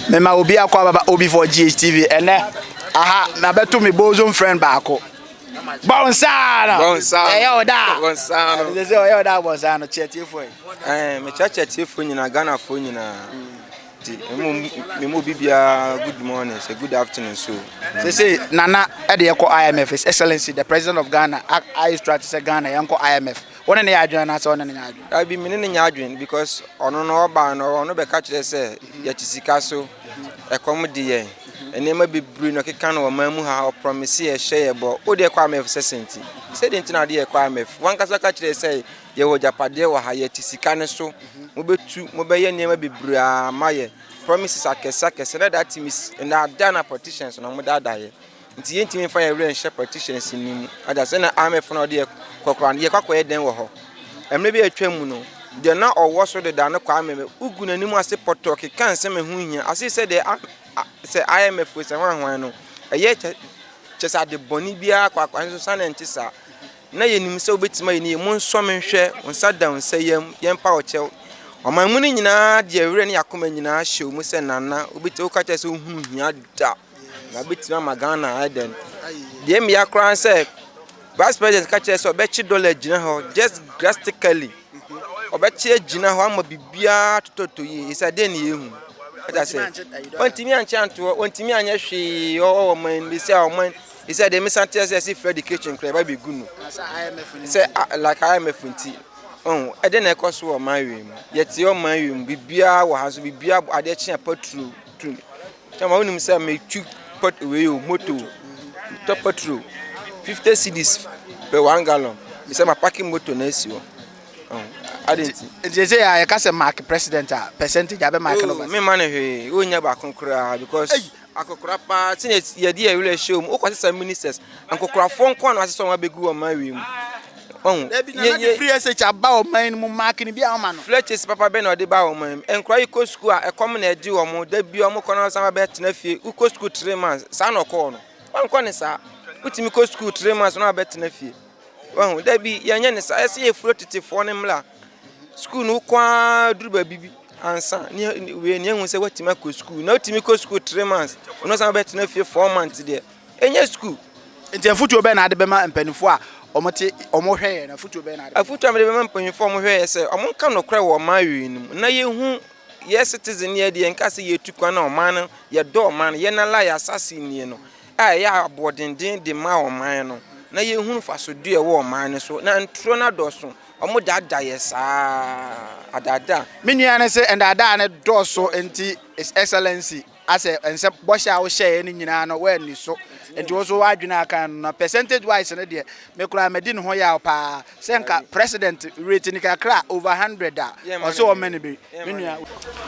mema obi akɔ ababa obi for GHTV ɛnɛ aha mabɛto me bosom friend baako bɔnsaano ɛyɛ ɔda bɔnsaano ɛsɛ sɛ ɔyɛ ɔda bɔnsaano kyerɛtiefoɔ yi ɛɛ mekyɛ kyerɛtiefoɔ nyinaa Ghanafoɔ nyinaa ti emu memu obi biara good morning sɛ good afternoon so sɛ sɛ nana ɛde yɛkɔ IMF his excellency the president of Ghana ayɛ strategy sɛ Ghana yɛnkɔ IMF Wo ne no yɛ adwene anaasɛ ɔne no nyɛ adwene? Dabi, me ne no nyɛ adwene because ɔno no ɔbaa no ɔno bɛka kyerɛ sɛ yɛte sika so, ɛkɔm de yɛn, nneɛma bebree na ɔkeka no ɔman mu ha, ɔprɔmese yɛ, ɔhyɛ yɛ bɔ. Wo deɛ kɔ IMF sɛ sɛn ti? Sɛ deɛ nti na ade yɛ kɔ IMF? Wankasa ka kyerɛ sɛ yɛwɔ agyapadeɛ wɔ ha, yɛte sika no so, mobɛtu, mobɛyɛ nneɛma bebree a ma yɛ, promises akɛse akɛse, na that means nnaadaa na politicians na wɔdaadaa yɛ. Nti yɛntumi mfa yɛn werɛ nhyɛ partitions no mu. Ɔda sɛ na IMF na ɔde yɛ kɔkora no, yɛkɔ akɔyɛ dɛn wɔ hɔ? Mmerɛ bi a atwam mu no, deɛ na ɔwɔ so dedaa no Kwame me, wogu n'anim ase pɔtɔ keka nsɛm a ɛho nhia, ase sɛ deɛ a, a, sɛ IMF wei sɛ hwan hwan no, ɛyɛ kyɛ, kyɛ sɛ ade bɔne biara kɔ akɔ, nanso saa na ɛnte saa. Na yɛnim sɛ wobɛtumi ayɛ ne yie, monsɔ me nhwɛ, wo nsa da wo nsa yam, yɛmpa wo kyɛw. Ɔman mu no nyinaa de yɛn werɛ ne yɛn akoma nyinaa hyɛɛ mu sɛ Nana, wobɛti, woka kyerɛ sɛ wohunu hia da. Yɛabɛtumi ama Ghana ayɛ dɛn? Deɛ mmea koraa ne sɛ vice president ka kyerɛ sɛ ɔbɛkye dollar agyina hɔ just drastically ɔbɛkye agyina hɔ ama biribiara totɔtɔ yie ɛsɛ adeɛ ne yɛhu ɛda sɛ ɔntumi ankyɛ antoɔ ɔntumi anyɛ hwee ɔwɔ ɔman bi sɛ ɔman ɛsɛ deɛ mesa teɛ sɛ ɛsɛ frɛ education koraa ɛba bɛgu no sɛ like imf nti ɛde na ɛkɔ so wɔ ɔman wei mu yɛte ɔman wei mu biribiara wɔ ha so biribiara adeɛ kye apaturo Kyama wo nim sɛ me tu pot wei o moto tɔ petrol fifty cedis per one gallon me sɛ ma parking moto na esi hɔ adi nti. Nti ɛsɛ yɛ a yɛka sɛ mark president a percentage abɛ mark no ba. Me ma ne hwee o nya baako koraa because akokora paa sɛ yɛde yɛ wura hyɛ mu o kɔ sesa ministers ankokorafoɔ nko na asesa wɔn abegu wɔn ma wie mu. Wahu? Dabi, na na free SH aba ɔman no mu mark no bi a ɔma no. Fletches papa bɛ na ɔde ba ɔman mu. Nkora yi kɔ sukuu a, ɛkɔm na ɛde wɔn, da bi wɔn kɔ na wɔsan ba bɛ tena fie. Wo kɔ sukuu three months, saa na ɔkɔɔ no. Wankɔ ne saa. Wo tumi kɔ sukuu three months na wabɛ tena fie. Wahu? Dabi, yɛnyɛ ne saa. Ɛsɛ yɛ furo tete foɔ ne mmla. Sukuu no wokɔ a duru ba bibi. Ansa, ni, wei ni ehu sɛ watumi akɔ sukuu. Na wotumi kɔ sukuu three months, na ɔsan bɛ tena fie four months deɛ. Ɛnyɛ sukuu. Nti afutuo bɛn na ade bɛma mpaninfoɔ a wɔn te wɔn hwɛeɛ no afutuo bɛn na ade bɛma. Afutuo a mede bɛma mpaninfoɔ a wɔn hwɛeɛ sɛ wɔn nka nokorɛ wɔ ɔman wei no mu na yɛ hu yɛ citizen yɛ deɛ nka sɛ yɛ tu kwan na ɔman no yɛ dɔ ɔman no yɛ na la yɛ asase nie no a ɛyɛ aboɔdenden de ma ɔman no na yɛ hu mfasodeɛ ɛwɔ ɔman no so na ntorɔ no adɔso wɔn daadaa yɛ saa adaadaa. Me nua no se ndaadaa no dɔɔso nti his excellency. Asɛ nsɛ bɔhyɛ a wohyɛɛ no nyinaa no woanni so nti wo so w'adwene aka no na percentage wise no deɛ me koraa madi ne ho yaw paa sɛ nka president rate ni kakra over hundred a ɔsɛ ɔmɛ no bi me nua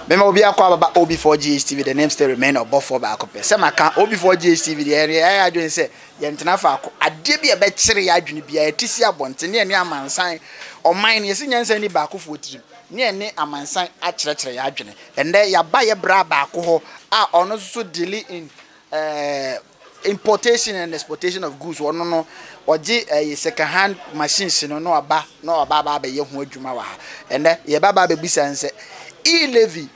Mema obi akɔ ababa OB4GHTV the name still remain ɔbɔfoɔ baako pɛ sɛ maka OB4GHTV deɛ yɛn yɛayɛ adwene sɛ yɛn tena faako adeɛ bi a ɛbɛkyere yɛn adwene biara yɛte si abɔnten ne yɛne amansan ɔman no yɛsi nyansa nni baakofoɔ tirim ne ɛne amansan akyerɛkyerɛ yɛn adwene. Ɛnnɛ, yɛaba yɛn bra baako hɔ a ɔno nso so deale in eh, importation and exportation of goods. Ɔno no, ɔgye eh, second hand machines no na ɔba na ɔba aba abɛyɛ ho adwuma wɔ ha. Ɛnnɛ, yɛbaba abɛbisa nsɛ e-levy,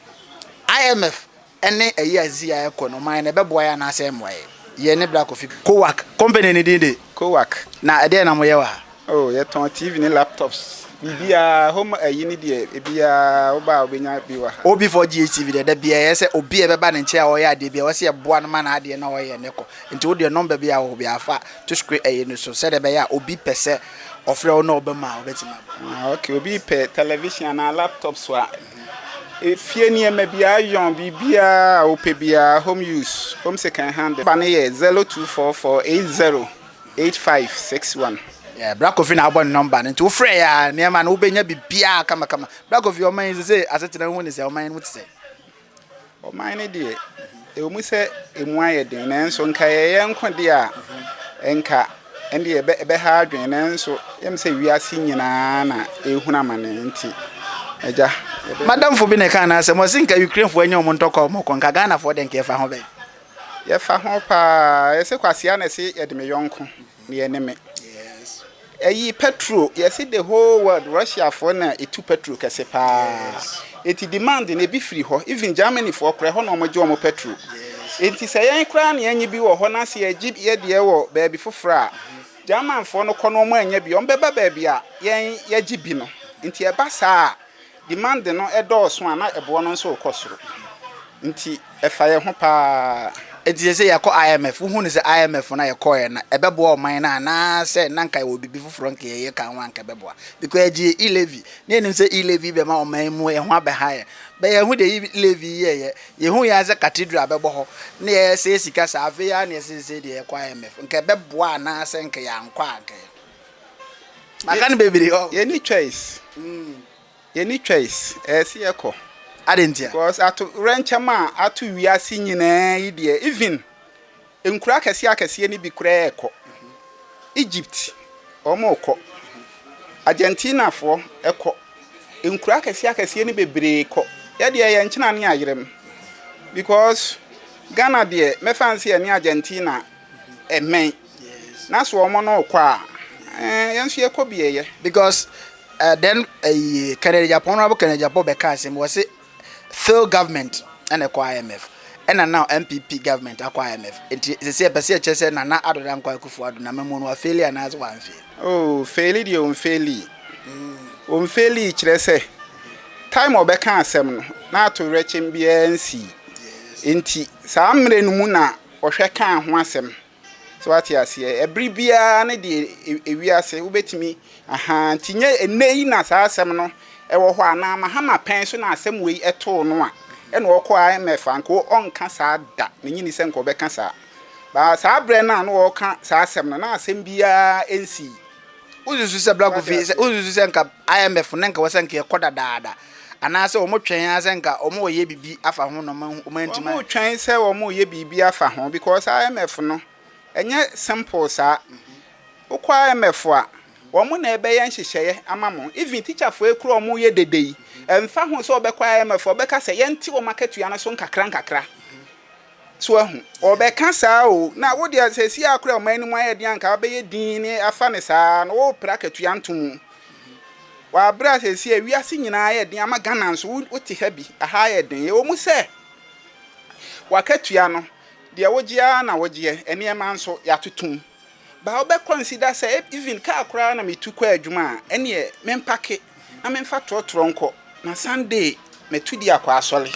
IMF, ne ɛyɛ a Zia ɛkɔ no ɔman no ɛbɛboa yɛ anaasɛ ɛmmoa yɛ? Yɛ ne bra Kofi. Kowak, company ne din de. Kowak. Na ɛdeɛn na moyɛ wɔ ha? Oh, yɛtɔn TV ne laptops, biribiara, home ayi ne deɛ, ebiara, woba a wobɛnya bi wɔ ha. OB4GHTV deɛ, da biara ɛyɛ sɛ obi a ɛbɛba ne nkyɛn a ɔyɛ adeɛ bi a, ɛwɔ sɛ yɛboa no ma n'adeɛ no a ɔyɛ no kɔ. Nti wo deɛ nɔmba biara a wowɔ biara fa to screen ayi no so sɛdeɛ ɛbɛyɛ a obi pɛ sɛ ɔfrɛ wo na ɔba mu a, wobɛtumi aboa. Ah, ok, obi pɛ television anaa laptops a. Efie nneɛma biara ayɔn, biribiara a wopɛ biara, home use, home second hand. Ba no yɛ 0244808561. Yeah, Bra Kofi na abɔ ne nɔmba no nti wofrɛ yɛ a nneɛma no wobɛnya biribiara kamakama. Bra Kofi, ɔman yi sesei asetena ho ni sɛ ɔman yi no mu te sɛn? Ɔman no deɛ, ɛwɔ mu sɛ emu ayɛ den, nanso nka ɛyɛ yɛn nko deɛ a, nka ɛndeɛ ɛbɛha adwene, nanso yɛm sɛ wiase nyinaa na ɛrehunu amane nti, agya. M'adamfo bi na ɛkaa n'asɛm, ɔse nka Ukrainefoɔ anya wɔn ntɔkwa a wɔkɔ, nka Ghanafoɔ deɛ nka yɛfa ho bɛn? Yɛfa ho paa, ɛsɛ Kwasea na ɛse yɛde me yɔnko. Deɛ ne me. Yes. Ɛyi petrol yɛsi the whole world Russia foɔ na etu petrol kɛse paa. Yes. Eti demand no ebi firi hɔ even Germany foɔ koraa ɛhɔ na wɔn gye wɔn petrol. Yes. Eti sɛ yɛn koraa na yɛn nye bi wɔ hɔ na sɛ yɛgye yɛ deɛ wɔ baabi foforɔ a German foɔ no kɔ na wɔn anya bi wɔn bɛba baabi a yɛn yɛgye bi no nti ɛba saa a. Dimande no dɔɔso a na ɛboɔ no nso rekɔ soro nti ɛfa yɛn ho paa. Enti sɛ sɛ yɛkɔ IMF, wohu no sɛ IMF no a yɛkɔɔɛ no ɛbɛboa ɔman no anaasɛ na anka yɛwɔ biribi foforɔ anka yɛyɛ ka ho a anka ɛbɛboa because yɛgye yɛn e-levy na yɛnim sɛ e-levy bɛma ɔman mu yɛn ho abɛha yɛn but yɛahu deɛ e-levy yi yɛyɛ yɛhu yɛn sɛ cathedral bɛbɔ hɔ na yɛsɛe sika saa afei ara na yɛse sesei deɛ yɛkɔ IMF nka ɛbɛboa anaasɛ nka yɛankɔ a anka yɛ maka no bebree hɔ. yɛni choice mm. yɛni choice ɛsi yɛ kɔ. adi ntia. because ato rɛnkyɛm a ato wiase nyinaa yi deɛ even nkura akɛseɛ akɛseɛ ni bi koraa ɛkɔ egypt wɔn kɔ argentina foɔ ɛkɔ nkura akɛseɛ akɛseɛ ni bebree kɔ yɛ deɛ yɛn nkyɛn ne ayerɛm because ghana deɛ mɛfa nsi yɛ ne argentina. Amen. Na so wɔn no rekɔ a, eh, yɛn nso yɛkɔ bi yɛyɛ. Because uh, then uh, Kennedy Agyapong, Honorable Kennedy Agyapong bɛka asɛm wɔ se fail government ɛna ɛkɔ IMF ɛna now MPP government akɔ IMF nti sisi ɛpɛ sɛ ɛkyɛ sɛ Nana Addo Dankwa Akufo Addo na mɛmu no afeeli anaasɛ wɔanfeeli. Oh, feeli deɛ ɔnfeeli. Ɔnfeeli mm. kyerɛ sɛ time ɔbɛka asɛm no na ato werɛkyɛm biara nsii. Nti saa mmerɛ no mu na wɔhwɛ kaa ho asɛm. So wate aseɛ? Ɛbere biara ne deɛ ɛwi ase, wobɛtumi, ahaa, nti nyɛ ɛnnɛ yi na saa asɛm no wɔ hɔ anaa Mahama pɛn so na asɛm wei too no a ɛna ɔkɔ IMF a, nka ɔnka saa da, mennye nni sɛ nka ɔbɛka saa. But saa berɛ no a na ɔreka saa asɛm no, na asɛm biara nsii. Wosusu sɛ Bra Kofi, wosusu sɛ nka IMF no nka wɔ sɛ nka ɛkɔ dadaada anaasɛ wɔn twɛn ara sɛ nka wɔn reyɛ biribi afa ho na wɔn ahu wɔn antumi. Wɔn twɛn sɛ wɔn reyɛ biribi afa ho because IMF no ɛnyɛ simple saa. Wokɔ IMF a wɔn na ɛbɛyɛ nhyehyɛeɛ ama mo even teacherfoɔ yi kura wɔn reyɛ dede yi ɛnfa ho sɛ wɔbɛkɔ IMF a wɔbɛka sɛ yɛnte wɔn akatua no so nkakra nkakra. So wahu? Ɔbɛka saa o, na wo deɛ seesei a koraa ɔman no mu ayɛ den a anka wobɛyɛ din ne afa no saa no worepere akatua nto mu. Wɔ aberɛ a seesei a wiase nyinaa ayɛ den ama Ghana nso wote ha bi, aha ayɛ den. Ɛwɔ mu sɛ w'akatua no deɛ wogye ara na wogyeɛ, nneɛma nso yɛatoto mu. Ba wobɛkɔ nsi da sɛ even car koraa na metu kɔ adwuma a ɛneɛ me mpake na me mfa trɔtrɔ nkɔ na Sunday matu di akɔ asɔre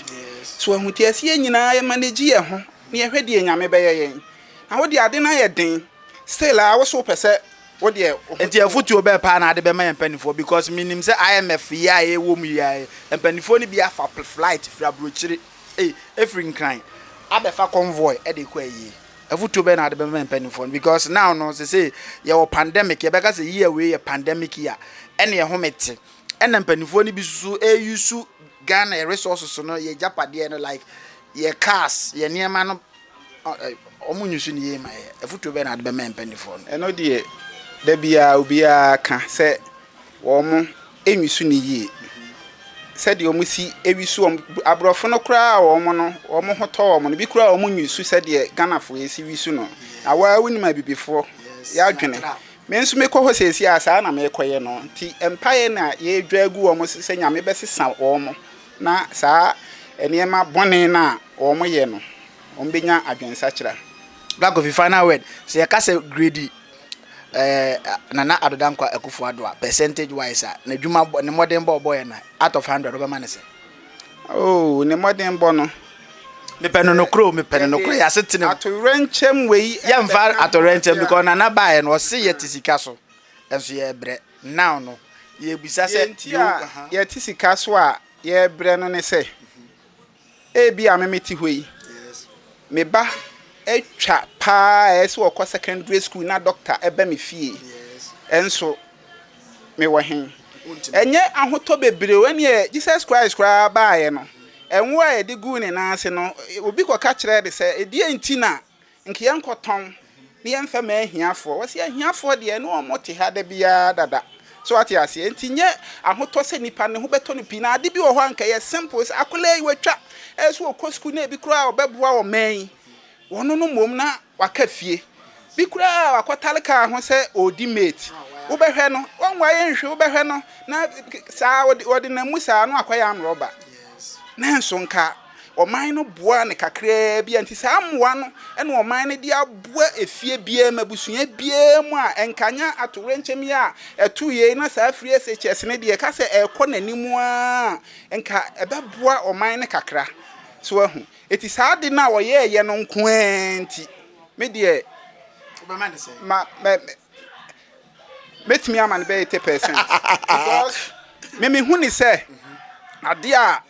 so wahu nti ɛsɛ yɛn nyinaa yɛ manage yɛn ho na yɛhwɛ deɛ Nyame bɛyɛ yɛn na wodeɛ ade no ayɛ den still a wose wopɛ sɛ wodeɛ woho Nti afotuo bɛn paa na ade bɛma yɛn mpanifoɔ because menim sɛ IMF yi a yɛwɔ mu yi ara yi mpanifoɔ no bi afa flight firi abrokyire ei efiri Nkran abɛfa convoy de rekɔ ayie. Afotuo bɛn na wode bɛma mpaninfoɔ no because now no sesei yɛwɔ pandemic yɛbɛka sɛ year wei yɛ pandemic year ɛneɛ ho mete ɛna mpaninfoɔ no bi susu ɛyusu Ghana yɛ resources no yɛ gyapadeɛ no like yɛ cars yɛ nneɛma no ɔmo nyusu ne yie ma yɛ afotuo bɛn na wode bɛma mpaninfoɔ no. Ɛno deɛ da biara obiara ka sɛ wɔnwisu no yie sɛdeɛ wɔsi wisu wɔn. Aborɔfo no koraa a wɔn no wɔn ho tɔ wɔn no, bi koraa wɔnwisu sɛdeɛ Ghanafoɔ yi si wisu no. Na wo ara wonim Abibifoɔ, yɛn adwene. Me nso mekɔ hɔ seesei a, saa na mekɔyɛ no. Nti mpaeɛ na yɛredwa agu wɔn so sɛ Nyame bɛsesa wɔn na saa nneɛma bɔne no a wɔyɛ no, wɔbɛnya adwensakyera. Black Coffee Final Word, Sɛ yɛka sɛ gredi Ɛɛ Nana Addo Dankwa Akufo Addo a percentage wise a n'adwuma bɔ ne mmɔdenbɔ a ɔbɔeɛ no out of hundred wobɛma no sɛn? Oh ne mmɔdenbɔ no. Mepɛ no nokorɛ o mepɛ no nokorɛ yɛ asetena mu. Atoyerɛnkyɛm wei. Yɛmfa atoyerɛnkyɛm because Nana baeɛ no ɔse yɛte sika so nso yɛbrɛ now no yɛbisa sɛ. Deɛ nti a yɛte sika so a yɛbrɛ no ne sɛ. Ebia me mete hɔ yi, me ba atwa paa a ɛyɛ sɛ ɔkɔ secondary school na dɔkta ɛba me fie. Ɛnso mewɔ he? Ɛnyɛ ahotɔ bebree o, ɛneɛ Jesus Christ koraa baeɛ no, ɛnwo a yɛde guu ne nan ase no, obi kɔka kyerɛɛ ne sɛ, ɛdeɛ nti na Nka yɛnkɔtɔn na yɛmfa mma ahiafoɔ. Wɔse ahiafoɔ deɛ ne wɔn te ha da biara dada. So wate aseɛ? Nti nyɛ ahotɔ sɛ nipa ne ho bɛtɔ no pii. Na ade bi wɔ hɔ a nka ɛyɛ simple sɛ akwadaa yi watwa, ɛyɛ sɛ ɔkɔ sukuu na ebi koraa ɔbɛboa ɔman yi. Wɔno no mmom na waka fie. Bi koraa wakɔtare kaa ho sɛ ɔredi mate. Wobɛhwɛ no, wɔnwaeɛ nhwe wobɛhwɛ no na saa ɔde ɔdenam mu saa na wakɔyɛ amrɔba. Nanso nka Ɔman no boaa no kakraa bi a, enti saa mmoa no na ɔman no de aboa efie biara mu, abusua biara mu a ɛnkanya atowerɛnkyɛm yi a ɛtoo yei na saa Free SHS no deɛ ɛka sɛ ɛrekɔ n'anim ara a, nka ɛbɛboa ɔman no kakra. So woahu? Enti saa ade no a ɔyɛeɛ no nko ara nti, me deɛ, Wobɛma no sɛn? ma, mɛ, mɛ, mɛtumi ama no bɛyɛ 80 percent. Because me mehu ne sɛ adeɛ a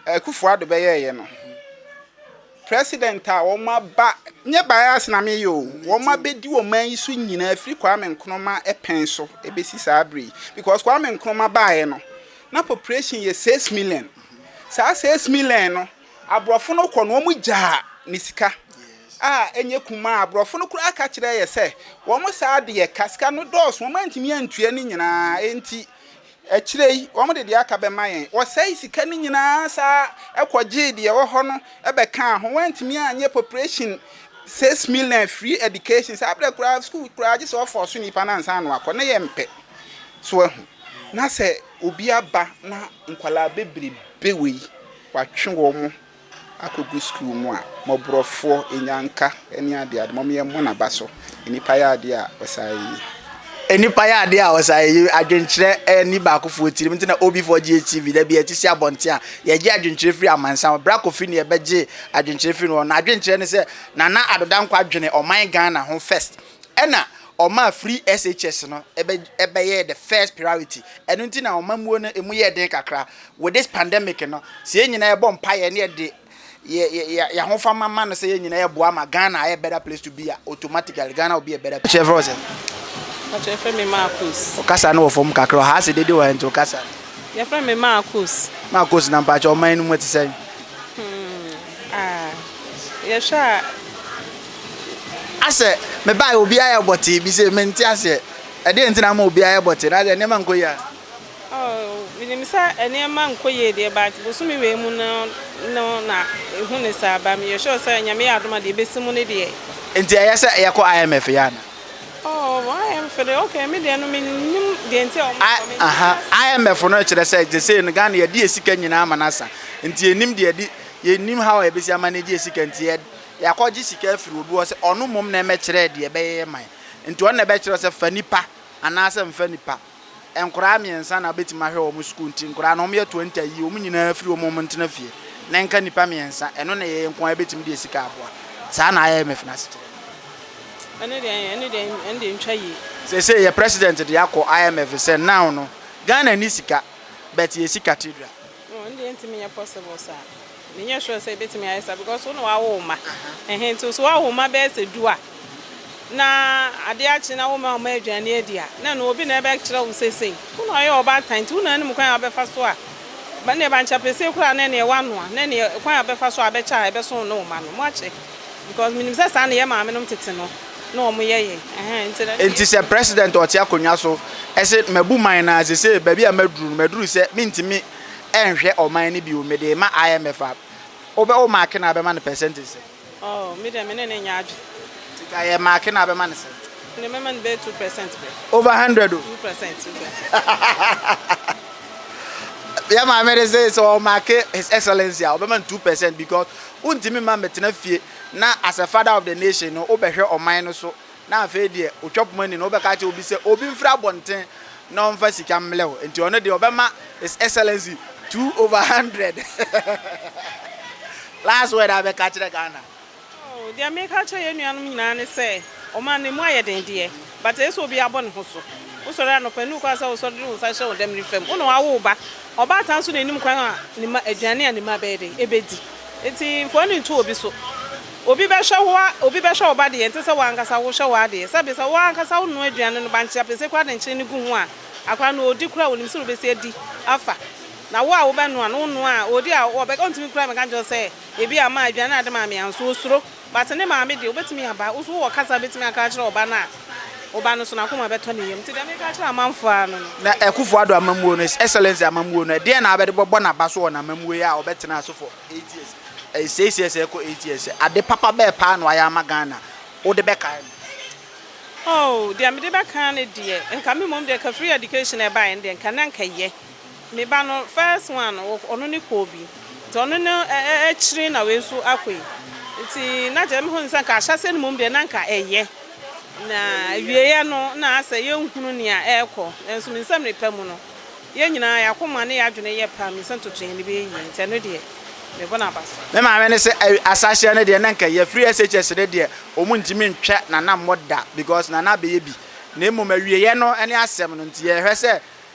Akufo Addo bɛyɛeɛ no, president a wɔaba, nyɛ bias na meyɛ o, wɔabɛdi ɔman yi so nyinaa firi Kwame Nkrumah pɛn so ɛbɛsi saa berɛ yi. Because Kwame Nkrumah baeɛ no, na population yɛ 6 million. Saa 6 million no, aborɔfo no kɔ no, wɔn gyaa ne sika a ɛnyɛ kumaa. Aborɔfo no koraa ka kyerɛ yɛ sɛ, wɔn saa de yɛ ka, sika no dɔɔso, wɔn antumi antua ne nyinaa, enti Akyire yi, wɔde deɛ aka bɛma yɛn. Wɔsɛe sika no nyinaa saa kɔgyee deɛ ɛwɔ hɔ no bɛkaa ho. Wɔantumi anyɛ population six million free education. Saa berɛ koraa, sukuu koraa gye sɛ wɔfɔɔso nnipa no ansa na wɔakɔ. Na yɛmpɛ. So wahu? Na sɛ obi aba na nkwadaa bebrebe wei, wɔatwe wɔn. akɔgu sukuu mu a, mmɔborɔfoɔ, nnyanka ne adeade, mom yɛmmɔ n'aba so, nnipa yɛ adeɛ a ɔsaeɛ yi. Nnipa yɛ adeɛ a ɔsaeɛ yi, adwenkyerɛ nni baakofoɔ tirim, nti na OBfoɔ gye yɛ TV, da bi yɛte si abɔnten a, yɛgye adwenkyerɛ firi amansan hɔ, Bra Kofi na yɛbɛgyee adwenkyerɛ firi ne hɔ, n'adwenkyerɛ ne sɛ, Nana Addo Dankwa dwene ɔman Ghana ho first, Ɛna ɔmaa free SHS no bɛyɛɛ the first priority. Ɛno nti na ɔmammuo no ɛmu yɛɛ den kakra. With this pandemic no, sɛ yɛn nyinaa bɔ mpaeɛ na yɛde yɛn ahofama ma no sɛ yɛn nyinaa ɛboa ma Ghana ayɛ better place to be a, automatically Ghana will be a better place. Ɔkyerɛ frɛ wo sɛn? Ɔkyerɛ frɛ me Marcos. Wo kasa no wɔ fam kakra, ɔha ase dede wɔ ha nti wo kasa no. Yɛfrɛ me Marcos. Marcos na mpakyɛ ɔman no mu ɛte sɛn? Hmm, ah, yɛhwɛ a Asɛ mebae obiara yɛ bɔtee bi se mente aseɛ ɛdeɛn nti na ama obiara yɛ bɔtee na asɛ nneɛma nkɔ yie a. Oh menim sɛ nneɛma nkɔ yie deɛ but bosome wei mu no no na ɛhu no saa ba meyɛ sure sɛ nyame yɛ adom a deɛ ɛbɛsi mu no deɛ. Nti ɛyɛ sɛ yɛkɔ IMF yɛ ana. Oh IMF deɛ ok me deɛ no menim deɛ nti a wɔn kɔ me aha IMF no kyerɛ sɛ gye sei no Ghana yɛde yɛ sika nyinaa ama no asa nti yɛnim deɛ yɛde yɛnim how a yɛbɛsi ama no agye yɛ sika nti yɛ. Yɛakɔgye sika afiri obi hɔ sɛ ɔno mmom na ɛmmɛkyerɛ deɛ ɛbɛyɛ yɛn man. Nti ɔno na ɛbɛkyerɛ wo sɛ fa nipa anaasɛ mfa nnipa. Nkoraa mmiɛnsa na wobɛtumi ahwɛ wɔn sukuu nti nkoraa no wɔyɛ twenty a yi wɔn nyinaa firi hɔ ma wɔn ntena fie na ɛnka nnipa mmiɛnsa. Ɛno na ɛyɛ yɛn nko ara yɛbɛtumi de sika aboa. Saa na IMF no asekyerɛ no yɛ. Ɛno deɛ ɛyɛ, ɛno deɛ ɛno deɛ ɛntwa yie. Seesei yɛ president de akɔ IMF sɛ now no Ghana nni sika but yɛsi cathedral. Oh ɛno deɛ ɛntumi nyɛ possible saa. Menyɛ sure sɛ ɛbɛtumi ayɛ saa because wo na wawo wo mma. Ɛhɛn nti so wawo wo mma bɛyɛ sɛ du a na adeɛ akye na woma wo mma aduane adi a na ɛno obi na ɛbɛkyerɛ wo seesei. Wo na ɔyɛ ɔbaatan nti wo na anim kwan a wobɛfa so a ɛnneɛ bankyɛpɛsee koraa na ɛneɛ woanoa na ɛneɛ kwan a wobɛfa so a ɛbɛkyɛ a ɛbɛso wo ne wo mma no moakyɛ because menim sɛ saa na ɛyɛ maamenom tete no. na wɔn yɛ yɛ ɛhɛn nti na. Nti sɛ president a ɔte akonnwa so se mabu man no ara sesei baabi a maduru no maduru sɛ mentumi nhwɛ ɔman no bio mede rema IMF a wobɛ wo marke no a wobɛma no percentage sɛn? Oh me deɛ me ne no nyɛ adwene. Nti ka yɛ marke no a wobɛma no sɛn? Me deɛ mɛma no bɛyɛ two percent pɛ. Over hundred o. Two percent two percent. Yɛ maame no se sɛ ɔmarke his excellency a ɔbɛma no two percent because wontumi mma mɛtena fie na as a father of the nation no wobɛhwɛ ɔman no so na afei deɛ otwa poma ni no wobɛka kyerɛ obi sɛ obi mfiri abɔnten na ɔmfa sika mmlɛ wo nti ɔno deɛ ɔbɛma his excellency two over hundred last word abɛka kyerɛ Ghana. Oh, deɛ meka kyerɛ yɛn nuanom nyinaa ne sɛ ɔman no emu ayɛ den deɛ but ɛyɛ sɛ obi abɔ ne ho so wosɔre anɔpa ne wokɔ asɛ wosɔre de wo nsa hyɛ wo dɛmene fam wo na wawo wo ba ɔbaatan nso na anim kwan a ne ma aduane a ne ma bɛyɛ dɛ ɛbɛdi Enti mfoni nto obi so. Obi bɛhwɛ wo a, obi bɛhwɛ wo ba deɛ, ɛnte sɛ wo ankasa wohwɛ w'adeɛ. Sɛbe sɛ wo ankasa wonoa aduane no, bankye apese koraa de nkyene no gu ho a, akwadaa no ɔredi koraa a, ɔnim sɛ wobɛsi adi afa. Na wo a wobɛnoa no, wonoa a, ɔredi a, ɔntumi koraa mmɛka nkyerɛ wo sɛ, Ebia ma, aduane a wode maa me anso. Ɔsuro. But ne maame deɛ wobɛtumi aba, wo so wowɔ kasa a wobɛtumi aka akyerɛ ɔba no a, ɔba no so n'akoma bɛtɔ ne yam. Nti deɛ meka akyerɛ amanfoɔ ara no no. Na Akufo Addo amammuo no, His Excellency amammuo no, ɛdeɛn na abɛde bɛbɔ n'aba so wɔ n'amammuo yi a ɔbɛtena ase for eight years, ɛyɛ seis years ɛrekɔ eight years, ade papa bɛɛ paa na wayɛ ama Ghana, wode bɛkae no? Oh, deɛ mede bɛkae no deɛ, nka me mmom deɛ kafiri education ɛbaeɛ no deɛ nka na nka ɛyɛ. Me ba no first one no ɔno ne kɔɔ bi nti ɔno no akyire na wei nso akɔ yi nti na kyerɛ mehu ne sɛ nka ahyɛseɛ no mmom deɛ na nka ɛyɛ na awieɛ no na asɛ yɛnhunu nea ɛrekɔ nanso me nsɛm ne pa mu no yɛn nyinaa yɛakoma ne yɛadwene yɛ pa me sɛ ntoto yɛn ne bɛyɛ yie nti ɛno deɛ mebɔ no aba so. Me maame ne sɛ ahyɛseɛ no deɛ na nka ɛyɛ firi SHS no deɛ wɔn ntumi ntwa nanammɔ da because nana abɛyɛ bi na mmom awieɛ no ne asɛm no nti yɛhwɛ sɛ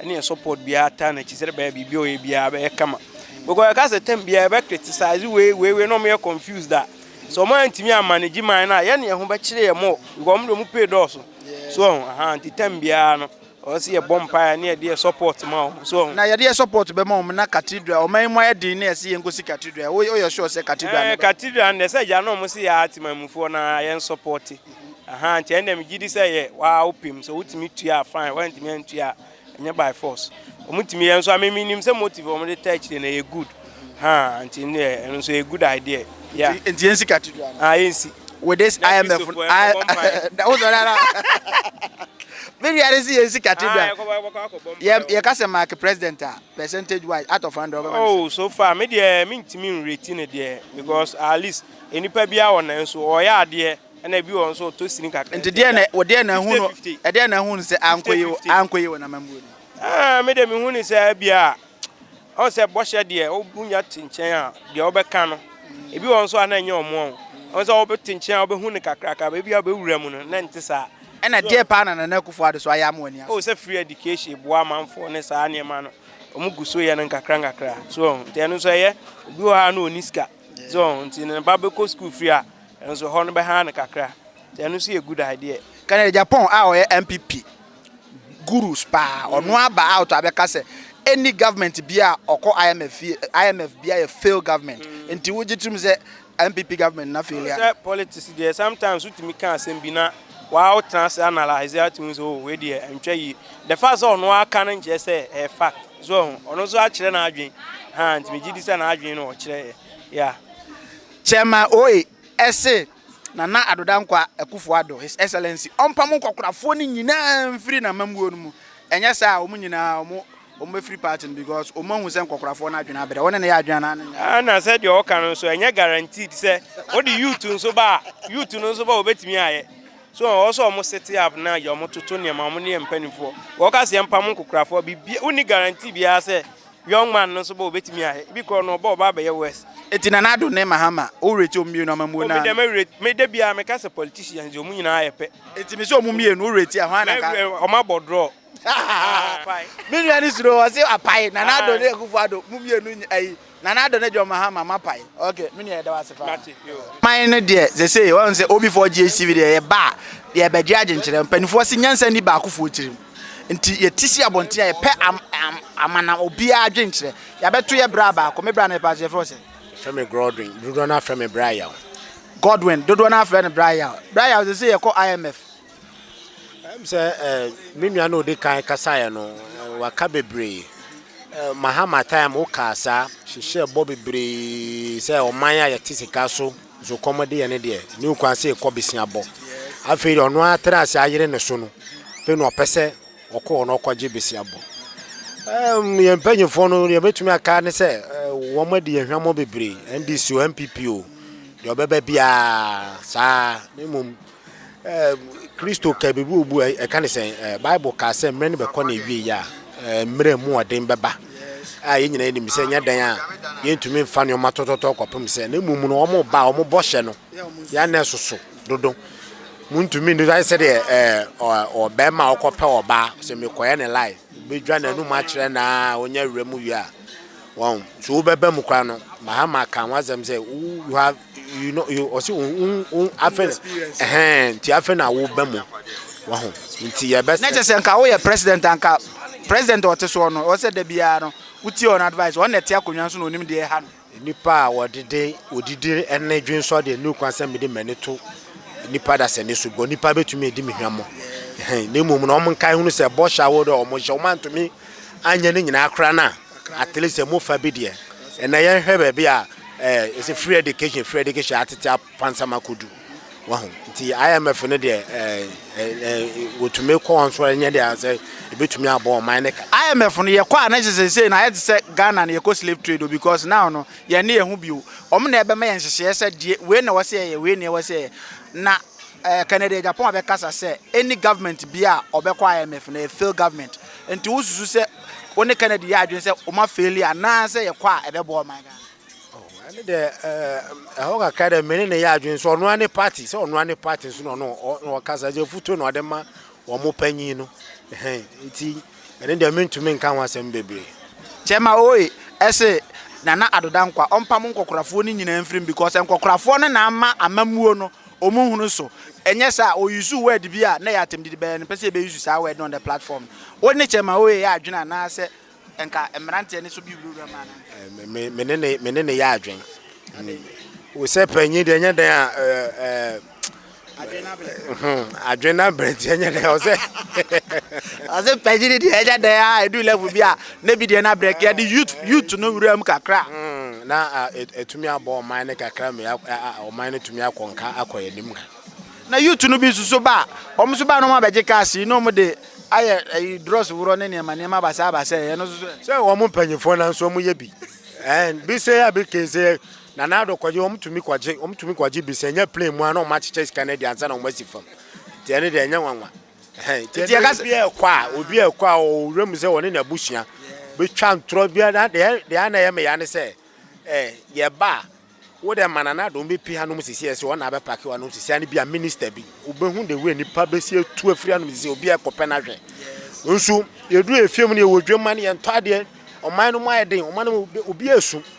ɛne yɛ support biara taa n'akyi sɛ bɛyɛ biribi a ɔyɛ biara bɛyɛ kama because ɛka sɛ tɛm biara ɛbɛ criticize wei wei wei na ɔmo yɛ confused a sɛ ɔmo antumi a manage man no a yɛ ne yɛ ho bɛkyerɛ yɛ mo because ɔmo de ɔmo pay dɔɔso so ɔho aha nti tɛm biara no ɔsɛ yɛ bɔ mpaeɛ ne yɛde yɛ support ma ɔmo so ɔho na yɛde yɛ support bɛma ɔmo na cathedral ɔmo ayɛ mo ayɛ den na yɛsɛ yɛn kɔsi cathedral woyɛ sure sɛ cathedral ɛɛ cathedral no sɛ gya na ɔmo se yɛ ate manmufoɔ na yɛn support Ahaa nti ɛnna megye di sɛ yɛ waa wopem sɛ wotumi tua a fine woantumi antua a ɛnyɛ by force wɔtumi yɛ nso a meme nim sɛ motive wɔn de taa akyire no ɛyɛ good haa nti ne yɛ ɛno nso yɛ good idea yeah Nti nti yɛnsi katidwa no. ah yɛnsi With this Yɛ IMF Kristofo, no, I- yɛnkɔbɔ mpae. Da- wosɔre ara. Me nua no si yɛnsi ah katidwa. yɛkɔbɔ yɛbɛkɔ akɔbɔ mpae Yɛ- wɔ- Yɛka sɛ Mark president a, percentage wise, out of 100 ɔbɛma no sɛ. oh so far me deɛ mentumi nreti no deɛ because at least Nnipa biara wɔ nan so, ɔyɛ adeɛ, ɛna ebi wɔ hɔ nso ɔtɔ sini kakra. Nti deɛ na wɔ deɛ na ehu no ɛdeɛ na ehu no sɛ anko yi anko yi wɔ n'amambuo ni. Ɛɛ mi de mi hu ni sɛ bia ɔn sɛ bɔhyɛ deɛ ɔbunya te nkyɛn a deɛ ɔbɛka no ebi wɔ nso a na ɛnyɛ ɔmo ɔn ɔn sɛ ɔbɛ te nkyɛn a ɔbɛ hu no kakrakra bɛ bi a ɔbɛ wura mu no na nte saa. Ɛna deɛ paa na Nana Akufo Addo so ayɛ ama w'ani asɔ. O sɛ free education boa amanfoɔ ne saa nneɛma no ɔmo gu so yɛ no nkakra nkakra so ɔn nti ɛno nso ɛyɛ obi wɔ hɔ a na ɔni sika. So nti ne ba bɛkɔ sukuu firi a nso hɔ no bɛha no kakra nti ɛno nso yɛ good idea. Kennedy Agyapong a ɔyɛ NPP gurus paa ɔno aba out abɛka sɛ any government bia a ɔkɔ IMF fie IMF bia yɛ fail government mm. nti wogye tom sɛ NPP government na failure. Sɛ politics deɛ sometimes wotumi ka asɛm bi na waa wotena ase analyse atumi sɛ oh wei deɛ ntwa yie the fact sɛ ɔno aka no nkyerɛ sɛ ɛyɛ fact. So wahu? Ɔno nso akyerɛ n'adwene. Haa, nti megye di sɛ n'adwene no ɔkyerɛeɛ. Yeah. Chairman Oye se Nana Addo Dankwa Akufo Addo, His Excellency, ɔmpamo nkɔkorafoɔ no nyinaa mfiri n'amammuo no mu. Ɛnyɛ saa a, wɔn nyinaa wɔn, wɔbɛfiri party no because wɔn ahu sɛ nkɔkorafoɔ no adwene abrɛ. Wɔne ne yɛ adwene anaa ne nyɛ? Ah, na sɛdeɛ ɔka no nso, ɛnyɛ guaranteed sɛ wode youth nso ba a, youth no nso ba a wɔbɛtumi ayɛ. So ɔwɔ sɛ wɔn set up na yɛ wɔn toto nneɛma wɔn ne yɛ mpanimfoɔ wɔka sɛ yɛmpam nkokorafoɔ biribi wonni guarantee biara sɛ young man no nso bɔ obetumi ayɛ ebi korɔ no ɔbɔ ɔba abɛyɛ worse. Eti Nana Addo ne Mahama wo rate wɔn mmienu amammuo Oh no me deɛ ara? mɛ rate me da biara meka sɛ politicians deɛ wɔn nyinaa yɛ pɛ. Eti me sɛ wɔn mmienu wo rate a hwan na nka? Mɛ wɔn abɔ draw. Me nua no suro ɔse apae Nana Addo ne Akufo Addo mo mmienu nyɛ ayi Nana Addo ne John Mahama mapae ok me nua yɛda wo ase paa. Man no deɛ sesei wɔn sɛ OB4 GHTV deɛ yɛba a yɛbɛgye agyenkyerɛ mpanimfoɔ se nyansa nni baakofoɔ tirim nti yɛte si abɔnten a yɛpɛ am am amanam obiara adwenkyerɛ yɛabɛto yɛ bra baako me bra no yɛpɛ ase yɛfrɛ wo sɛ Yɛfrɛ me Grodwin dodoɔ no afrɛ me Bra Yaw. Godwin dodoɔ no ara frɛ no Bra Yaw Bra Yaw sesei yɛkɔ IMF. Ɛm sɛ ɛɛ me nua na odi kan kasaeɛ no waka bebree ɛɛ mahama time wo kaa saa hyehyɛ bɔ bebree sɛ ɔman a yɛte sika so so kɔm de yɛ ne deɛ ne okwan sɛ ekɔ besia bɔ afei deɛ ɔno atra ase ayere ne so no afei na ɔpɛ sɛ ɔkɔ hɔ na ɔkɔgye besia bɔ ɛɛm yɛn mpanyinfoɔ no deɛ betumi aka ne sɛ ɛɛ wɔn adi yɛn hwamɔ bebree NDC o NPP o deɛ ɔbɛba biara saa ne mmom. Kristo kaa biribi wɔ bu a ɛka ne sɛn? Bible kaa sɛ mmerɛ no bɛkɔ na ɛwie yɛ a mmerɛ mu ɔden bɛba a yɛn nyinaa nim sɛ nyɛ dan a yɛntumi mfa nneɛma tɔtɔtɔ kɔpem sɛ na mmom no wɔn ba a wɔn bɔhyɛ no yɛ anɛ soso dodo muntumi ndu ayɛ sɛ deɛ ɔbɛrima a ɔkɔpɛ ɔbaa sɛ mekɔyɛ ne lai bɛdwa n'anum akyerɛ na ɔnya awura mu wie a wɔn so wobɛba mu koraa no mahama kan wasɛm sɛ you have you know you ɔsi wo wo afɛn ɛhɛn nti afɛn na wo bɛ mu wahu nti yɛ bɛ. na kyɛ sɛ nka woyɛ president anka president a ɔte soɔ no ɛwɔ sɛ da biara no wotie ɔn advice ɔn na ɛte akonnwa so na onim deɛ ɛha no. nipa a ɔdede odidi ɛne dwensɔ deɛ ne kwan sɛ mede m'ani to nipa dasani so bɔ nipa betumi edi me hwɛmo ɛhɛn na mmom na wɔn nkae hunu sɛ bɔhyɛ awo dɛ wɔn hyɛ wɔn antumi anyɛ ne nyinaa koraa na. At least ɛmu fa bi deɛ. Ɛnɛ yɛnhwɛ baabi a eh, yɛsɛ free education, free education atete apansam akɔdu. Wahu? Nti IMF no deɛ eh, eh, eh, wɔtumi kɔ wɔn so ɛnyɛ deɛ sɛ ɛbɛtumi abɔ ɔman ne ka. IMF no yɛkɔ a na kyɛ sɛ sei no ayɛ te sɛ Ghana no yɛkɔ slave trade o because now no yɛn ne yɛn ho bio. Wɔn na ɛbɛma yɛn nhyehyɛeɛ sɛ deɛ wei na ɛwɔ sɛ yɛyɛ, wei na ɛwɔ sɛ yɛyɛ. Na eh, Kennedy Agyapong abɛkasa sɛ any government bi a ɔbɛkɔ IMF no ɛyɛ failed government. Nti wo susu sɛ wo ne Kennedy yɛ adwene sɛ wɔn afeeli anaa sɛ yɛkɔ a ɛbɛboa ɔman Ghana? Oh, ɛne dɛ ɛhɔ kakra dɛ mene ne yɛ adwene sɛ ɔnoa ne party sɛ ɔnoa ne party nso na ɔno ɔkasa gye afutuo na ɔde ma wɔn panyin no nti ɛne dɛ mentumi nka ho asɛm bebree. Kyɛma oye ɛse Nana Addo Dankwa ɔmpa mo nkɔkorafoɔ no nyinaa mfirim because nkɔkorafoɔ no na ama amammuo no Wɔn hunu so. Ɛnyɛ saa a, wɔ usuu word bi a na ɛyɛ atɛmdidi bɛyɛ no, pɛ sɛ yɛbɛ use saa word no on the platform no. Wo ne Chairman Oye yɛ adwene anaa sɛ nka mmranteɛ no so bi wurawura mu anaa? Me ne ne, me ne ne yɛ adwene. Wo sɛ panyin deɛ ɛnyɛ dɛn a, adwene no abrɛ nti ɛnyɛ dɛn a, ɔsɛ. Ɔsɛ panyin deɛ ɛnyɛ dɛn a, ɛduru level bi a. na bi deɛ na brɛ kɛ yɛde youth youth no wura mu kakra na ɛtumi abɔ ɔman no kakra mu ɔman no tumi akɔ nka akɔ yɛn anim ka na youth no bi nso so ba wɔn nso ba na wɔn abɛgye cars yi na wɔn de ayɛ ɛyi drɔs worɔ ne nneɛma nneɛma abasa abasa yɛ no nso sɛ wɔn mpanyinfoɔ na nso wɔn yɛ bi ɛn bi sɛ yɛ bi kese na n'ado kɔgye wɔn tumi kɔgye wɔn tumi kɔgye bi sɛ nyɛ plane mu a na wɔn akyekyɛ sika no adi ansa na wɔn asi fam tiɛ ne deɛ nyɛ nwanwa. nti yɛka sɛ ɛkɔ a obi a ɛkɔ a ɔwura mu sɛ wɔne n'abusua bɛtwa ntorɔ biara deɛ ana ɛyɛ meya ne sɛ yɛba a wo dɛ mana na dɔm bɛpi hanom sisi ɛsɛ wɔn na abɛpake wɔn sisi ɛne bi a minista bi wobɛhu de wei nipa bɛsi etu afiri hanom sisi obi a ɛkɔpɛ no ahwɛ nso yɛduru efie mu no yɛwɔ dwemma no yɛntɔ adeɛ ɔman no mu ayɛ den ɔman no mu obi esu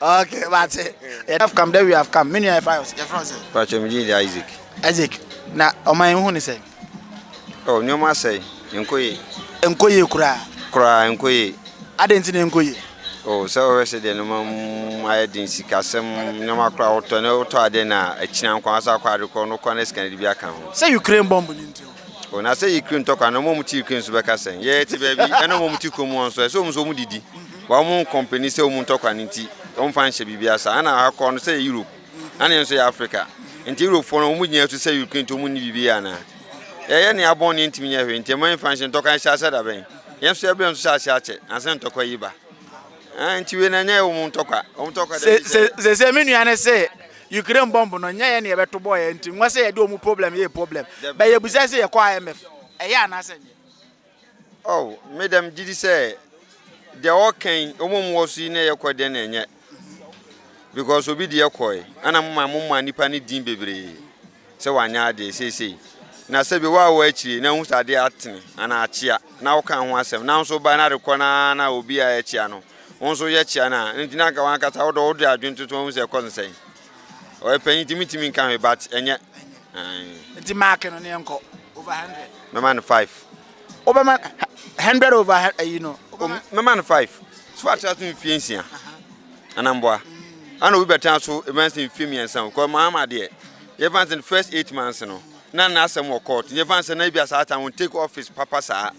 okay mate yɛde have come that we have come me nua yɛfa yɛ yɛfrɛ wo sɛ pakyɛ me din de isaac isaac na ɔman yi ho ne sɛ oh nneɛma asɛe nkɔ yie nkɔ yie koraa koraa nkɔ yie adɛn nti na nkɔ yie oh sɛ wɔhwɛ sɛ deɛ nneɛma mu ayɛ den sikasɛm nneɛma koraa wotɔ ne wotɔ adeɛ no a akyina nkwa asa akɔ ade korɔ no kɔ ne sika no de bi aka ho sɛ ukraine bɔmbo no nti o na sɛ ukraine tɔ kwa na ɔma mu ti ukraine so bɛka sɛn yɛte baabi ɛna ɔma mu ti kurom hɔ nso ɛsɛ ɔmu so ɔmu didi Bɔ wɔn kɔmpani sɛ wɔn ntɔ kwan nti wɔmfa nhyɛ biribiara saa na akɔ no sɛ yɛ Europe na ne yɛn nso yɛ Africa nti Europe foɔ no wɔn gyina so sɛ European nti wɔn nni biribi yɛ anaa yɛyɛ ne abɔn ne yɛntumi nyɛ hwee nti ɛma yɛmfa nhyɛ ntɔkwa nhyɛ asɛ da bɛn yɛn nso yɛbrɛ nso hyɛ aseɛ akyɛ ansa ntɔkwa yi ba ɛn nti wei na ɛnyɛ wɔn ntɔkwa wɔn ntɔkwa dɛ sɛ sɛ me nua ne sɛ Ukraine bɔmb no nyɛ yɛ ne yɛbɛto bɔɔ yɛn nti nwa sɛ yɛde wɔn problem yɛ problem bɛ yɛbusa sɛ yɛkɔ IMF ɛyɛ anaasɛ nyɛ Oh, me dɛ megye di sɛ deɛ ɔɔka yi, wɔn a wɔwɔ so yi na ɛyɛ kɔ deɛ na ɛnyɛ. Because obi deɛ kɔe, ɛna moma moma nipa ne din bebree sɛ wanyɛ adeɛ seesei. Na sɛbi wo a wɔ akyire na wohu sɛ adeɛ atene anaa akyea na woka ho asɛm na nso ba na rekɔ na na obi a ɛkyea no, wo nso yɛ kyea no a, nti na anka wankasa wode wode adwene toto ho sɛ ɛkɔ no sɛn. Ɔyɛ panyin nti mi ntumi nka hwee but ɛnyɛ. Nti mark no ne yɛn kɔ over hundred. Mɛma no five. Wobɛma hundred over ayi no. Mɛma no five. So atra so mfie nsia. Anamboa. Ana obi bɛtena so ɛbɛn sɛ mfie mmiɛnsa o. Kɔ maa ma deɛ. Yɛfa nsɛ first eight months no. Na na asɛm wɔ court. Yɛfa nsɛ na ebi asa ata wɔn take office papa saa.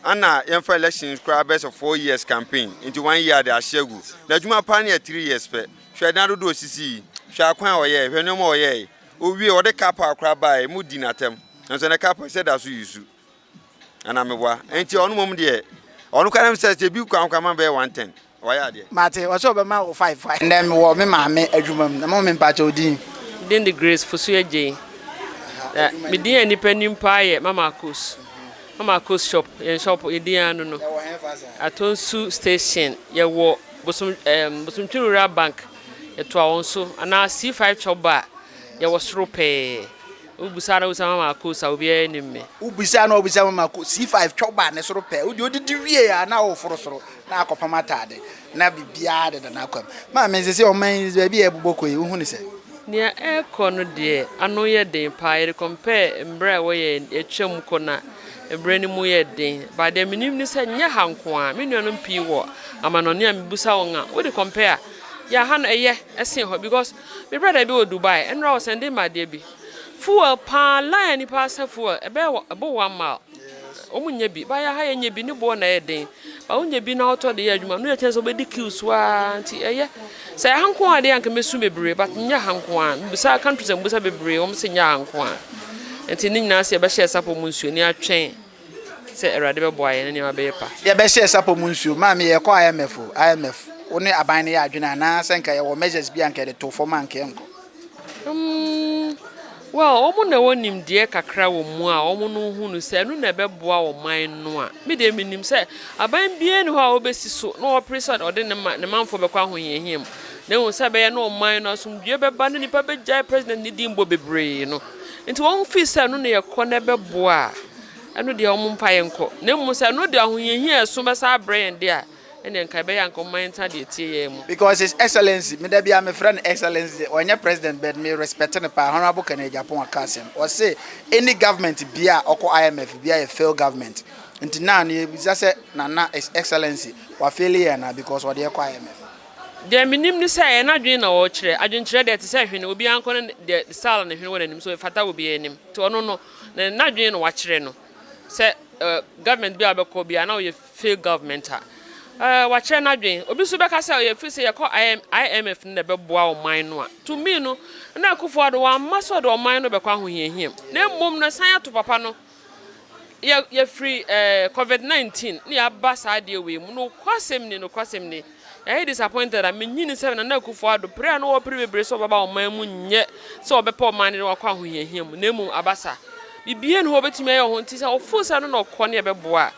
Ana yɛmfa elections koraa bɛsɛ four years campaign. Nti one year de ahyɛ gu. Na adwuma paa no yɛ three years pɛ. Hwɛ nna dodoɔ a ɔsisii, hwɛ akwan a ɔyɛeɛ, hwɛ nneɛma a ɔyɛeɛ. Ɔwiee, ɔde cup a koraa baeɛ, modii no atɛm. Nanso ɛnnɛ cup sɛ da so yusu. Anaa meboa? Enti ɔno mmom deɛ, ɔno koraa nim sɛ sɛ ebi kwan koraa ma bɛyɛ one ten, wayɛ adeɛ. Mate, ɔse ɔbɛma wo five. Ɛnnɛ mewɔ me maame adwuma mu na mo me mpakyɛ wo din? Me din de Grace Fosu Agyei. Na me din a nnipa nim paa yɛ Mama Kos. Mama Kos shop, yɛn shop yɛdin ara no no. Yɛwɔ hɛn fa saa? Atonsu station, yɛwɔ. Bosom ɛɛm Bosomtwi Rural Bank yɛtoa wɔn so anaa C five kyɛw ba a yɛwɔ soro pɛɛ wobisa a na wobisa Mama Akos a obiara nnim me. Wobisa a na wobisa Mama Akos C five kyɛw ba a ne soro pɛɛ wode odidi wie a na woforo soro na akɔpam ataade na biribiara deda n'akwam. Maame sesei ɔman yi baabi a ɛrebobɔ kɔ yi wohu no sɛ. Nea ɛrekɔ no deɛ ano yɛ den paa yɛde compare mmerɛ a ɛwɔ yɛn yɛtwam kɔ no a. Ɛberɛ no mu yɛ den but deɛ menim ne sɛ nyɛ ha nko ara, me nuanom pii wɔ amanɔne a mebisa wɔn a wode compare a, yeah ha no ɛyɛ sen hɔ because me brother bi wɔ Dubai ɛnora ɔ sɛnde me adeɛ bi, fuel paa line a nipa asɛ fuel ɛbɛyɛ ɛbɔ one mile wɔn nnya bi but yɛha yɛnya bi ne boɔ na ɛyɛ den Ɔwo nya bi na ɔtɔ de yɛ adwuma no yɛ kyɛn sɛ wobɛdi kiw so aa nti ɛyɛ sɛ ɛha nko aa deɛ anka mɛsu bebree but nyɛ ha nko aa mebisa country sɛ mebisa bebree wɔn se nyɛ ha nko aa nti ne nyinaa sɛ yɛbɛhyɛ sapo mu nsuo ne atwɛn sɛ awurade bɛboa yɛn ne nneɛma bɛyɛ pa. Yɛbɛhyɛ sapo mu nsuo maame yɛkɔ IMF o IMF wo ne aban no yɛ adwene anaa sɛ nka yɛwɔ measures bi anka yɛde too fam anka yɛnkɔ. Mm, well, wɔn na ɛwɔ nimdeɛ kakra wɔ mu a wɔn no hu no sɛ ɛno na ɛbɛboa ɔman no a, me deɛ menim sɛ aban biara ni hɔ a wɔbɛsi so na wɔpere sɛ ɔde ne ma ne manfoɔ bɛkɔ ahohiahia mu. Na ehu sɛ ɛbɛyɛ na ɔman no asomdwoeɛ bɛba na nipa bɛgyae president ne din bɔ bebree no. Nti wɔn fii sɛ ɛno na yɛkɔ na ɛbɛboa a, ɛno deɛ wɔn mpa yɛn kɔ. Na mmom sɛ ɛno de ahohiahia ɛso bɛsa abrɛ yɛn deɛ a, Ɛnneɛ nka ɛbɛyɛ a nka ɔmma yɛntena deɛ ɛteɛ yɛn mu. Because his excellency, me da biara me frɛ no excellency de, ɔnyɛ president but me respect no paa, honourable Kenneth Agyapong aka asɛm, ɔse any government biara a ɔkɔ IMF biara yɛ failed government, nti now no yɛbisa sɛ Nana his excellency wa faili yɛn anaa because ɔde yɛn kɔ IMF. Deɛ menim ne sɛ ɛyɛ n'adwene na ɔrekyerɛ, adwenkyerɛ deɛ ɛte sɛ hwene, obiara nkɔ ne deɛ style ne hwene wɔ n'anim so ɛfata wɔ obiara anim, nti ɔno no, ne n'adwene na wakyerɛ no sɛ eh government biara a ɔbɛkɔ biara na ɔyɛ Failed government a wakyerɛ n'adwene. Obi nso bɛka sɛ ɔyɛ ɛfiri sɛ yɛkɔ IMF no na ɛbɛboa ɔman no a. To me no, Nana Akufo-Addo wamma sɛ ɔde ɔman no bɛkɔ ahohiahia mu, na mmom no ɛsan ato papa no. Yɛfiri covid 19 na yɛaba saa adeɛ wei mu. Nokwasɛm ni, nokwasɛm ni. Yɛayɛ disappointed a minnye nni sɛ Nana Akufo-Addo pere a na ɔwɔ pere bebree sɛ ɔbɛba ɔman mu nyɛ sɛ ɔbɛpɛ ɔman no de no akɔ ahohiahia mu na mmom abasa biribiara nni hɔ a ɔbɛtumi ayɛ wɔ ho nti sɛ ɔfoo sɛ ɛno na ɔkɔ ne ɛbɛboa a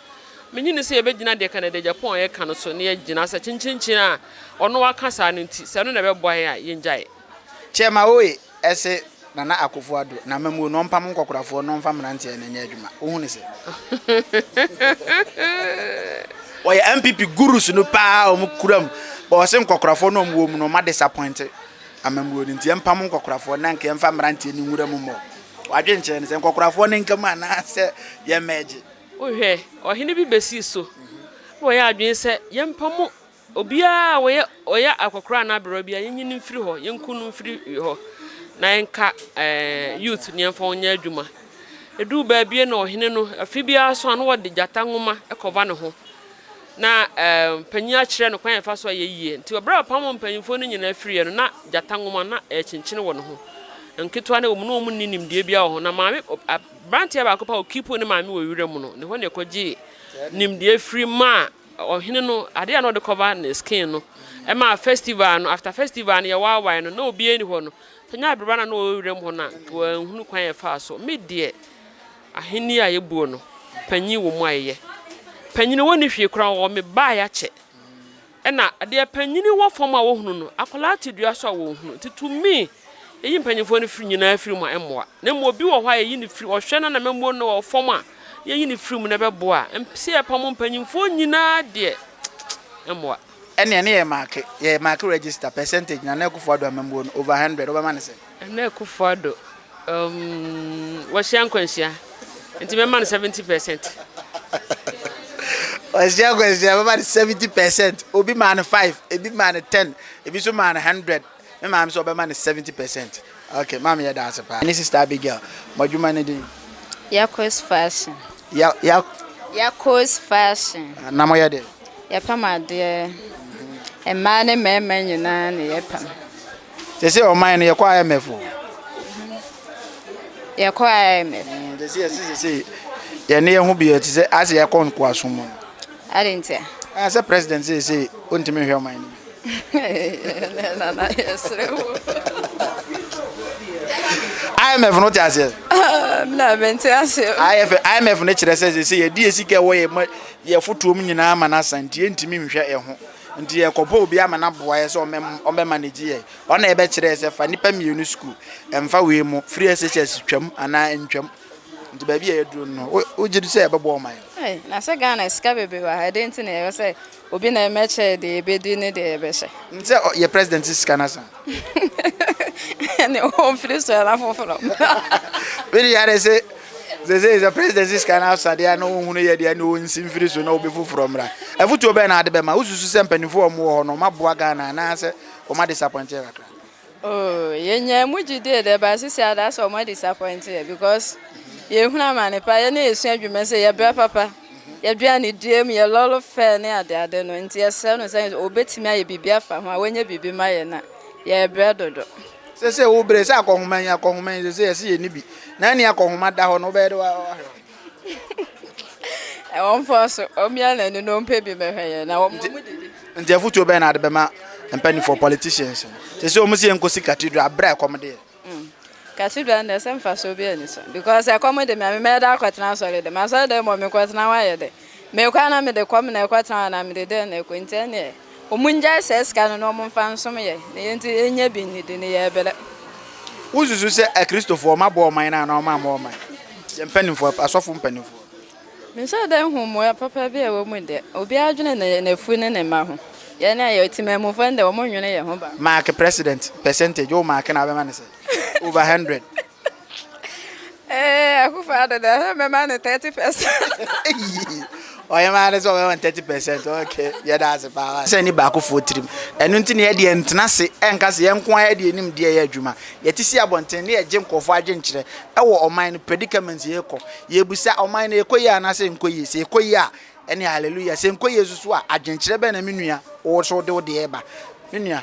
minnye nni sɛ yɛbɛgyina deɛ Canada Agyapong a yɛka no so na yɛagyina sɛ kyenkyenkyen a ɔno aka saa no nti sɛ ɛno na ɛbɛboa yɛn a yɛngyae Kyerɛma oe se Nana Akofo Addo na Amammuo no ɔmpam nkɔkorafoɔ na ɔmfa mmeranteɛ no nyɛ adwuma. Wohu no sɛ. Wɔyɛ NPP gurus no paa a wɔkura mu but wɔse nkɔkorafoɔ no a wɔwɔ mu no wɔadisappoint amammuo no nti yɛmpam nkɔkorafoɔ no na nka yɛmfa mmeranteɛ no nwura mu mmɔ w'adwenkyerɛ no sɛ nkɔkorafoɔ no nka mu anaasɛ yɛmmɛgye. Wohwɛ, ɔhene bi bɛsii so na wɔyɛɛ adwene sɛ yɛmpam Obiara a ɔyɛ ɔyɛ akɔkoraa anaa aberewa biara, yenyi no mfiri hɔ, yenku no mfiri hɔ, na yɛnka youth no yɛmfa wɔn nyɛ adwuma. Eduu baabie na ɔhene no, afe biara so a na wɔde gyata nwoma kɔva ne ho, na panyin akyerɛ no kwan a yɛfa so a ɛyɛ yie. Nti ɔberɛ a ɔpam mpanyinfoɔ no nyinaa firiiɛ no, na gyata nwoma na ɛrekyenkyene wɔ ne ho. Nketewa no wɔ mu, na wɔn nni nimdeɛ biara wɔ ho. Na maame, aberanteɛ baako pɛ a ɔkiipuu ne maame wɔ wiram no, ne hɔ na ɛkɔgyee nimdeɛ firi maa Ɔhene no ade a na ɔde cover ne skin no ɛma festival no after festival no yɛwaawae no na obiara ni hɔ no sɛ nyɛ abereba na na ɔwɔ wiram hɔ no a nka wanhunu kwan a ɛfaa so me deɛ ahenni a yɛbuo no panyin wɔ mu a yɛyɛ panyini wɔnni hwee koraa wɔwɔ me baa yɛakyɛ ɛna deɛ panyini wɔ fam a wɔhunu no akwadaa te dua so a wɔnhunu nti to me Yeyi mpanyimfoɔ no firi nyinaa firi mu a, ɛmmoa. Na mmom obi wɔ hɔ a yɛyi no firi, ɔhwɛ no na amammuo no wɔ fam a, yɛyi no firi mu, na ɛbɛboa a. Sɛ yɛpamo mpanyimfoɔ nyinaa deɛ, ɛmmoa. Ɛnneɛ ne yɛ maake, yɛ maake register, percentage, Nana Akufo Addo amammuo no, over hundred, wobɛma no sɛn? Nana Akufo Addo, um, wahyia nkwanhyia, nti mɛma no seventy percent. Wahyia nkwanhyia, mɛma no seventy percent. Obi maa no five, ebi maa no ten, ebi nso maa no hundred. Me maame sɛ ɔbɛma no seventy percent. Okay maame yɛda ase paa. Ɛne sister Abigail. Mo adwuma no din? Yako's fashion. Ya ya. Yako's fashion. Na mo yɛ dɛn? Yɛpam adeɛ. Mmaa ne mmarima nyinaa na yɛpam. Sese ɔman no yɛkɔ IMF o. Yɛkɔ IMF. Sese yɛsi sese yɛne yɛn ho bi yɛ te sɛ ase yɛkɔ nkoasom mu. Adɛn ntia? Ɛɛ sɛ president seesei ontumi nhwɛ ɔman no bi. Ɛnɛ nana yɛsrɛ wo. IMF no te aseɛ. Ah, na mente aseɛ. IMF IMF no kyerɛ sɛ sɛ yɛde yɛ sika ɛwɔ yɛ yɛ fotoom nyinaa ma no asa nti yɛntumi nhwɛ ɛho. Nti yɛkɔbɔ obi ama no aboa yɛ sɛ ɔmɛ ɔmɛ manage yɛ. Ɔna yɛbɛkyerɛ sɛ fa nipa mmienu sukuu. Ɛmfa wei mu firi SHS twam anaa ntwam. Nti baabi a yɛduru no, wogye di sɛ ɛbɛboa ɔman no? Ei, na sɛ Ghana sika bebree wɔ ha, ɛdɛn nti na ɛwɔ sɛ obi na ɛmɛkyɛ yɛ deɛ yɛbɛdi ne deɛ yɛbɛhyɛ? Nim sɛ yɛ president sika no asa. Ɛne ɔmfiri so ɛna foforɔ. Wede yɛ adɛ sɛ sɛsɛ sɛ president sika no asa deɛ na ɔhunu yɛ deɛ na ɔnsi mfiri so na obi foforɔ mmra. Afotuo bɛn na ade bɛma? Wosusu sɛ mpanimfoɔ a wɔwɔ hɔ no wɔaboa Ghana anaasɛ wɔadisapɔinte yɛ kakra? Oh yɛnyaa mu gyidie dɛ but sisi ada sɛ ɔma disappoint yɛ because yɛhunu amane pa yɛ ne yɛsua adwuma sɛ yɛbrɛ papa yɛdua ne dua mu yɛ lɔlo fɛ ne ade ade no nti yɛsrɛ no sɛ ɔbɛtumi ayɛ biribi afa ho a wɔnyɛ biribi ma yɛ na yɛbrɛ dodo. Sese wo brɛ sɛ akɔhoma yi akɔhoma yi sese yɛse yɛni bi na ɛne akɔhoma da hɔ no wobɛyɛ dɛ wahwɛ hɔ. Wɔmfa so, wɔmmia wɔn ani na wɔmpɛ bi mmɛhwɛ yɛn na wɔmma wɔn didi. Nti afutuo bɛn na wode bɛma mpaninfoɔ, politicians, no? Sɛsɛ wɔn se yɛnkɔsi cathedral aberɛ a ɛkɔm de yɛn. Mm, cathedral no deɛ sɛ mfasoɔ biara nni so because ɛkɔm de me a, me mɛda akɔtena asɔre dɛm? Asɔre dɛm mmɔ mekɔtena hɔ ayɛ dɛn? Mekɔ a na mede kɔm na ɛkɔ tena hɔ anaa mede dɛn na ɛkɔ nti ɛneɛ ɔmo ngyae saa sika no na ɔmo nfa nsom yɛn na yɛn nti yɛn nya bi nnidi na yɛ brɛ. Wo susu sɛ akristofoɔ ɔmo abɔ ɔman no anaa ɔmo ammɔ ɔman no? Yɛn mpaninfoɔ, asɔfo mpaninfoɔ. Me nhyɛ da nhu mmoa papa bi a ɛwɔ mu deɛ, obiara adwene ne nafu ne ne mma ho, yɛn a yɛ temanmufoɔ no deɛ ɔmo nwene yɛn ho ba. Mark president percentage wo mark no a wobɛma no sɛn? Over hundred. Eh, Akufo Addo dɛ ɛsɛ mɛma no thirty percent. Ɔhemaa no sɛ ɔbɛma no thirty percent okay yɛda ase paa. Sɛ ni baakofoɔ tirim. Ɛno nti na yɛ deɛ ntena ase ɛnka sɛ yɛn nko ara deɛ nim deɛ yɛ adwuma. Yɛte si abɔnten na yɛgye nkorɔfoɔ adwenkyerɛ ɛwɔ ɔman no predicament yɛkɔ. Yɛbisa ɔman no ɛkɔ yie anaa sɛ ɛnkɔ yie? Sɛ ɛkɔ yie a ɛne hallelujah. Sɛ ɛnkɔ yie nso so a adwenkyerɛ bɛn na me nua wo nso wode wo deɛ ɛba? Me nua.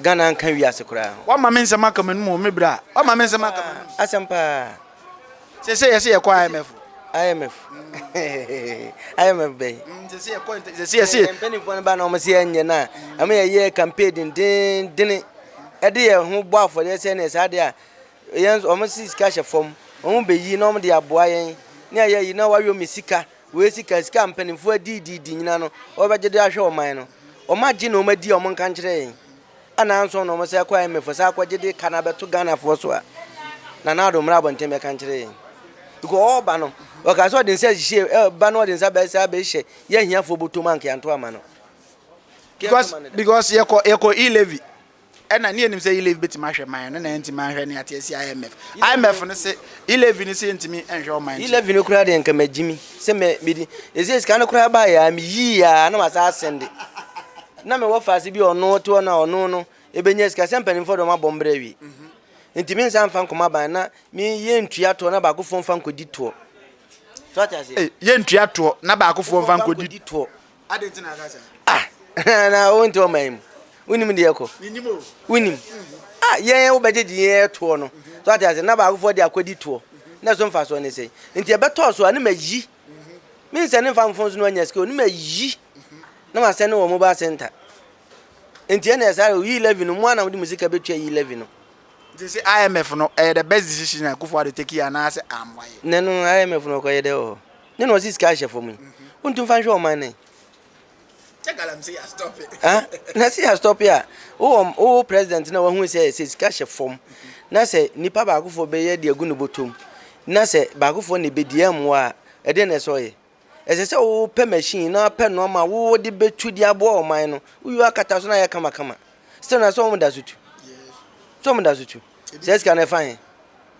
Ghana nka wiase koraa ho. Wama me nsɛm aka m'anom o, me bra. Wama me nsɛm aka m'anom. Asɛm paa. Sɛsɛ yɛse yɛkɔ IMF o. IMF IMF bɛyi. Mm, sɛsɛ yɛkɔ sɛsɛ yɛse. Mpanimfoɔ no ba na wɔn se yɛnyɛ no a, ɛma yɛyɛ campaign dendenden ɛde yɛ ho bɔ afɔdeɛ sɛ ne saa deɛ a yɛn wɔn si sika hyɛ fam wɔn bɛyi na wɔn de aboa yɛn ne ayɛ yi na wɔayɔ me sika Wei sika sika mpanimfoɔ adiidiidi nyina no wɔbɛgye de ahwɛ ɔman no wɔn agye na wɔn adi a wɔn nka nkyerɛ yɛn anaa nso na wɔn sɛ kɔ IMF sɛ akɔgye de ka no abɛto Ghanafoɔ so a na na ado mmra abɔnten bɛka nkyerɛ yɛn because ɔba no ɔka sɛ ɔde nsa hyɛ ɛba no ɔde nsa bɛsɛ abɛhyɛ yɛ ahiafoɔ bɔtɔ mu ankeanto ama no because because yɛkɔ yɛkɔ e levy Ɛna ne yɛnim sɛ Ilevy bɛtumi ahwɛ man no na ɛntimi anhwɛ ne ate asi IMF. IMF no se Ilevy no se yɛntimi nhwɛ ɔman nti. Ilevy no koraa deɛ nka magyimi sɛ mɛ medi. Ɛsɛ sika no koraa baa yɛ a meyii yɛ a na masa asɛnde. Na me wɔ faase bi a ɔno te hɔ na ɔno no ɛbɛnya sika sɛ mpanimfoɔ deɛ ɔmabɔ mbrɛ awie. Mhm. Nti me nsa mfa nkɔma ban na me yɛ ntua toɔ na baakofoɔ mfa nkɔdi toɔ. So ate aseɛ? Hey, yɛ ntua toɔ na baakofoɔ mfa nkɔdi toɔ. ah na wonte ɔman yi mu wonim deɛ ɛkɔ wonim ah yɛn wobɛgye gye yɛn toɔ no so ate ase na baakofoɔ de akɔdi toɔ na ɛso mfa soɔ ne sɛ nti ɛbɛtɔɔ so a ne mayi me nsɛ ne mfa mfo so no anya sikio ne mayi na masɛ ne wɔ mobile center nti ɛna ɛsɛ ayɛ yi eleven no mu a na mode mu sika bɛtua yi eleven no nti sɛ imf no ɛyɛ the best decision a kufoɔ ade take yi anaasɛ ammoayɛ ne no imf no ɔkɔyɛ dɛ wɔ hɔ ne na ɔsi sika hyɛ fam yi wontu nfa nhwɛ ɔman nɛ na si astɔpe a wowɔ wowɔ president na wahu sɛ sɛ sika hyɛ fam na sɛ nipa baakofoɔ bɛyɛ de agu ne bɔtɔm na sɛ baakofoɔ na ɛbɛdi ɛmmoa a ɛdeɛ na ɛsɛ ɔyɛ ɛsɛ sɛ wopɛ machine na wopɛ nnoɔma wode bɛtu de aboa ɔman no woyɛ akata so na ayɛ kamakama still na sɛ wɔn da so tu sɛ wɔn da so tu sɛ sika no ɛfa he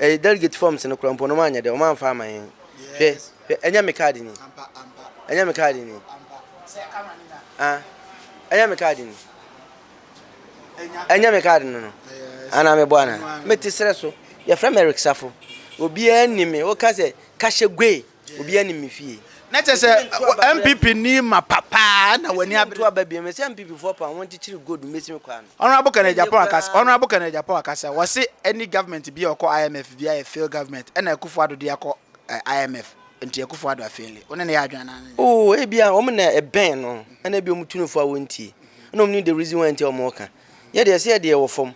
Ɛyɛ delegate forms no koraa mpo no wɔanyɛ dɛ wɔamfa ama yɛn hwɛ hwɛ ɛnyɛ me card ni ɛnyɛ me card ni ah ɛnyɛ me card ni ɛnyɛ me card no no ana mebɔ ana mete serɛ so yɛfrɛ me Eric Safo obiara ni me woka sɛ kahyɛ gwe Obiara nim me fie. Na kyɛ sɛ NPP ni mapa paa na w'ani abere. Mɛtu aba bio. Mese NPP foɔ paa wɔn kyekyere gold mesi me kwaa no. Honourable Kenneth Agyapong akasa Honourable Kenneth Agyapong akasa wɔse any government biaa ɔkɔ IMF biaa yɛ failed government ɛna Akufo Addo deɛ kɔ IMF nti Akufo Addo afeeli wone no yɛ adwen anaa anyɛ. Oh ebia wɔn na ɛbɛn no ɛna ebia wɔn tu no fo a wɔntie ɛna wɔn nim the reason why nti a wɔn reka yɛ deɛ ɛsɛ yɛ deɛ wɔ fam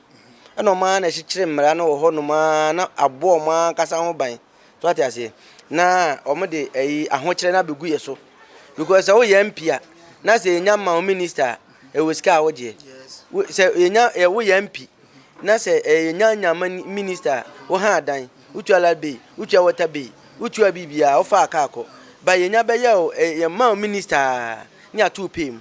ɛna wɔn ara na ɛkyekyere mmara no wɔ hɔ nom ara na abɔ wɔn ara ankasa ho ban. so ate aseɛ na wɔn de ɛyi ahokyerɛ na abɛgu yɛ so because sɛ woyɛ mp a na sɛ yɛnya ma wo minister a ɛwɔ sika a wogyeɛ sɛ yɛnya woyɛ mp na sɛ yɛnya nya ma minister a woha adan wotua light bill wotua water bill wotua biribiaa wofa aka akɔ ba yɛnya bɛyɛ yɛma wo minister a ne ato pay mu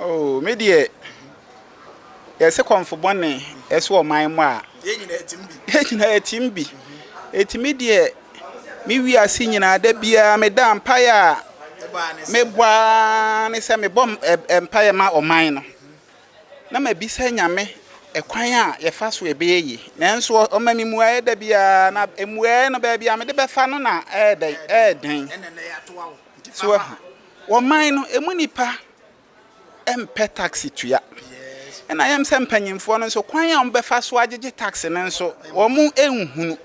Oh, me deɛ, yɛse kɔmfo bɔne ɛso wɔ man mu a. Yɛn nyinaa ɛtim bi. Yɛn nyinaa ɛtim bi. Eti me deɛ, me wi ase nyinaa da biara me da mpaeɛ a. Me bɔ ara ne sɛ me bɔ mpaeɛ ma ɔman no. Na ma bi sɛ nyame ɛkwan a yɛfa so ɛbɛyɛ yi. Nanso ɔma me mua ɛda biara na emuaɛ no baabi a me de bɛfa no na ɛɛdɛn ɛɛdɛn. Ɛna na yɛatoa wo. So wahu? Wɔ man no, emu nnipa mpɛ taksi tua. Ɛna ɛyɛ me sɛ mpanyimfoɔ no nso, kwan a wɔbɛfa so agyegye taksi no nso, wɔnhunu.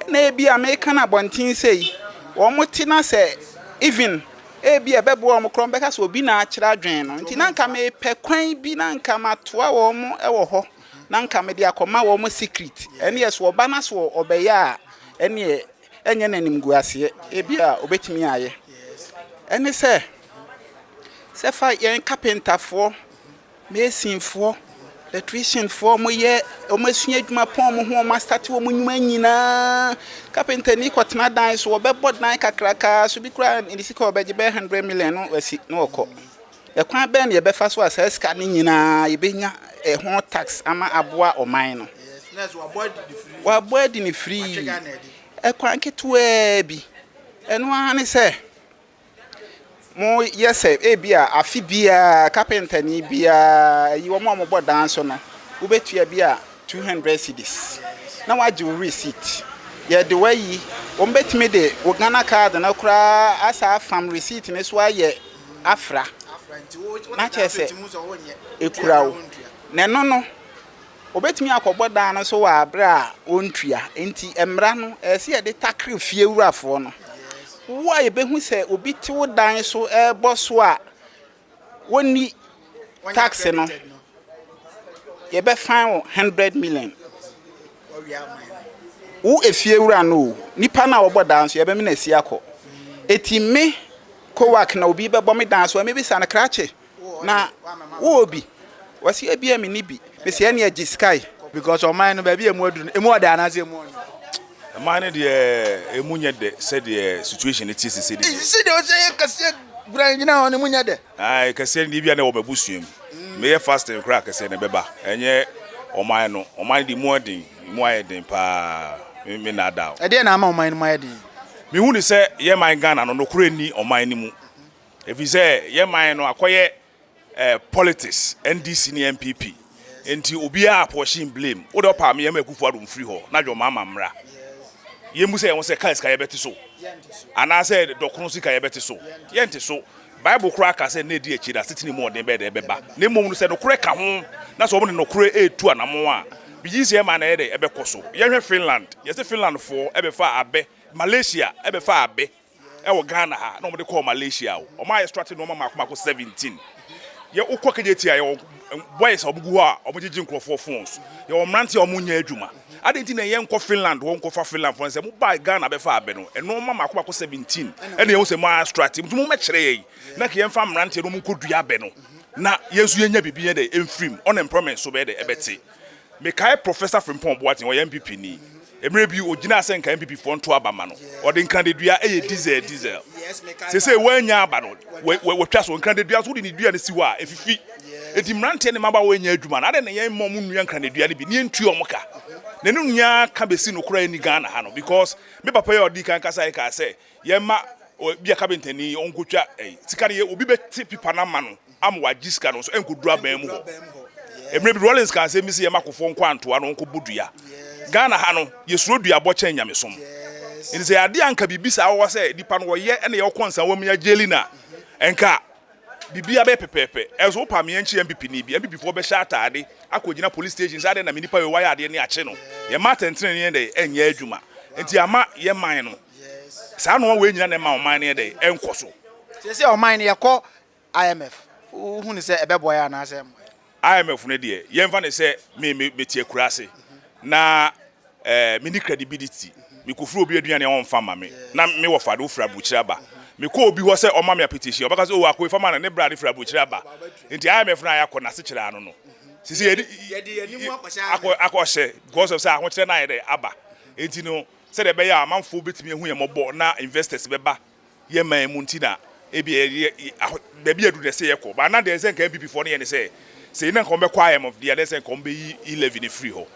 Ɛna ebi a meka no abɔnten sei, wɔte na sɛ even ebi a ɛbɛboa wɔn koraa, wɔbɛka sɛ obi na akyerɛ adwene no. Nti na nka mepɛ kwan bi na nka matoa wɔn wɔ hɔ na nka mede akɔma wɔn secret. Ɛnneɛ so wɔba na so wɔbɛyɛ a, ɛnneɛ Ɛnyɛ n'animguaseɛ, ebia a, ɔbɛtumi ayɛ. Ɛne sɛ, sɛ fa yɛn kapentafoɔ, masonfoɔ, electricianfoɔ, wɔn yɛ, wɔn asua adwuma pɔn wɔn ho, wɔn asate wɔn nnwuma nyinaa. Kapentani kɔtena dan so, ɔbɛbɔ dan kakrakaa so bi koraa, ne sika a ɔbɛgye bɛyɛ hundred million no, wasi na ɔkɔ. Ɛkwan bɛn na yɛbɛfa so a saa sika no nyinaa yɛbɛnya ho tax ama aboa ɔman no? Wɔabɔ adi no firi ɛkwan ketewaa bi. Ɛno ara ne sɛ moyɛ sɛ ebi a afe biara kapentani biara yi wɔn a wɔbɔ dan so no wobɛtua bi a two hundred cedis na wɔagye wo receipt. Yɛde wo ayi wɔbɛtumi de wo Ghana card no koraa asan afam receipt no so ayɛ. afra, na kyerɛ sɛ, ekura wo. Na ɛno no, obetumi akɔbɔ dan no so wɔ abere a ontua. Enti mmara no, ɛsɛ sɛ yɛde takre fiewurafoɔ no. Wo a yebehu sɛ obi te wo dan so rebɔ so a, wonni. tax no yɛbɛ fine wo hundred million wo efie wura no o nipa na wɔbɔ dan so yɛbɛ mi na esi akɔ eti me kowak na obi bɛbɔ me dan so ɛmi bi sa no krakye na wo obi wɔsi ebi ɛmi ni bi mesi ɛni ɛgye sky. because ɔman no baabi a emu adu no emu ɔdɛ anaasɛ emu ɔnyɛ. ɔman no deɛ emu nyɛ dɛ sɛdeɛ situation no te sisi deɛ. sisi deɛ ɔsɛ yɛ kɛseɛ guran gyina hɔ no emu nyɛ dɛ. Ae kɛseɛ no deɛ ebia na ɛwɔ m'abusua mu. Meyɛ fasting koraa kɛseɛ no ɛbɛba. Ɛnyɛ ɔman no. Ɔman no deɛ emu aden. Emu ayɛ den paa. Me me naadaa wo. Ɛdeɛn na ama ɔman no mu ayɛ den? Me hu no sɛ yɛn man Ghana no nokorɛ nni ɔman no mu. Ɛfiri sɛ yɛn man no akɔyɛ eh politics, NDC ne NPP. Nti obiaa apɔɔhye in blame wo de ɔpɛ a me yɛma Akufo Addo mfiri hɔ na John Mahama mmra yɛn busa yɛn ho sɛ car sika yɛbɛte so anaa sɛ dɔkono sika yɛbɛte so yɛnte so Bible koraa ka sɛ nna edi akyire no asetena mu ɔden bɛyɛ dɛ ɛbɛba na mmom no sɛ nokorɛ ka ho na sɛ wɔn de nokorɛ retu anamon a bigye sɛ ɛma na ɛyɛ dɛ ɛbɛkɔ so yɛnhwɛ Finland yɛse Finland foɔ ɛbɛfaa abɛ Malaysia ɛbɛfaa abɛ ɛwɔ Ghana ha na wɔde kɔɔ Malaysia o, wɔn a yɛstrate nneɛma mako mako seventeen. Yɛ wokɔ KJT a yɛwɔ boys a wɔgu hɔ a wɔgyegye nkurɔfoɔ phones, yɛwɔ mmerante a wɔnyɛ adwuma. Adɛn nti na ɛyɛ nkɔ Finland hɔ nkɔfa Finland foɔ no sɛ mobaa Ghana bɛfa abɛ no, nneɛma mako mako seventeen ɛna yɛhu sɛ moastrate, nti mommɛkyerɛ yɛn na nka yɛmfa mmeranteɛ no wɔnkɔdua abɛ no na yɛn nso yɛnya biribi yɛ dɛ mfirim, unemployment nso bɛyɛ dɛ ɛbɛte. Mekae Professor Frimpong Boateng, ɔyɛ NPP ni. Mmerɛ bi ɔgyinaa sɛ nka NPP foɔ nto aba ma no. Ɔde nkradadua yɛ diesel diesel. Seesei wannya aba no, watwa so. Nkradadua nso wode ne dua no si hɔ a, ɛfifi. Enti mmeranteɛ ne mmabaawa nnya adwuma no, adɛn na yɛn mma wɔn nnua nkradadua no bi na yɛntua wɔn ka? N'anum nyaa ka bɛsi no koraa nni Ghana ha no because me papa yi a ɔdii kan kasaeɛ kaa sɛ, yɛma bia kabentani ɔnkɔtwa sika no yɛ obi bɛte pipa no ama no ama wagye sika no nso ɛnkɔduru aban mu hɔ mmerɛ bi Rollins ka asɛm bi sɛ yɛma kofoɔ nkɔ antoa no ɔnkɔbɔ dua Ghana ha no yɛsuro duabɔ kyɛn nyamesom ɛnti sɛ yɛade anka biribi saa wɔ sɛ nipa no wɔyɛ ɛna yɛwɔ kɔnsa wɔ mu yɛagyeli no a ɛnka biribi abɛyɛ pɛpɛɛpɛ ɛnso wopa meɛ nkye MPP ni bi MPP foɔ bɛhyɛ ataade akɔgyina police station sɛ adɛn na me nipa yɛ wayɛ adeɛ ne akye no yɛma atɛntene ne yɛn dɛ ɛnyɛ adwuma ɛnti ama yɛ man no Saa nnoɔma wei nyina na ɛma ɔman no yɛ dɛn? Ɛnkɔ so. Seesei ɔman no yɛkɔ IMF, wohu no sɛ ɛbɛboa yɛn anaasɛ ɛmmoa yɛn? IMF no deɛ yɛmfa no sɛ me me mete akuraase na ɛɛ menni credibility, mekɔfiri obi aduane a ɔmfa mma me na me wɔfa de wofiri aburokyire aba, mekɔ obi hɔ sɛ ɔmma me apetition a ɔbɛka sɛ oh Akoi fa ma no ne bra de firi aburokyire aba, nti IMF no a yɛakɔ no asekyerɛ ara no no. Seesei yɛde yɛde yɛn anim akɔhyɛ akɔ akɔhyɛ because of sɛ ahokyerɛ no ayɛ dɛn aba, nti no sɛdeɛ ɛbɛyɛ a amanfoɔ bɛtumi ahu yɛn mmɔbɔ na investors bɛba yɛn man mu nti na ebia yɛyɛ ahɔ baabi aduru na ɛsɛ yɛkɔ but na deɛ ɛsɛ nka NPP foɔ no yɛ ne sɛ sɛ yɛn na nka wɔbɛkɔ IM of the year na ɛsɛ nka wɔbɛyi e levy no firi hɔ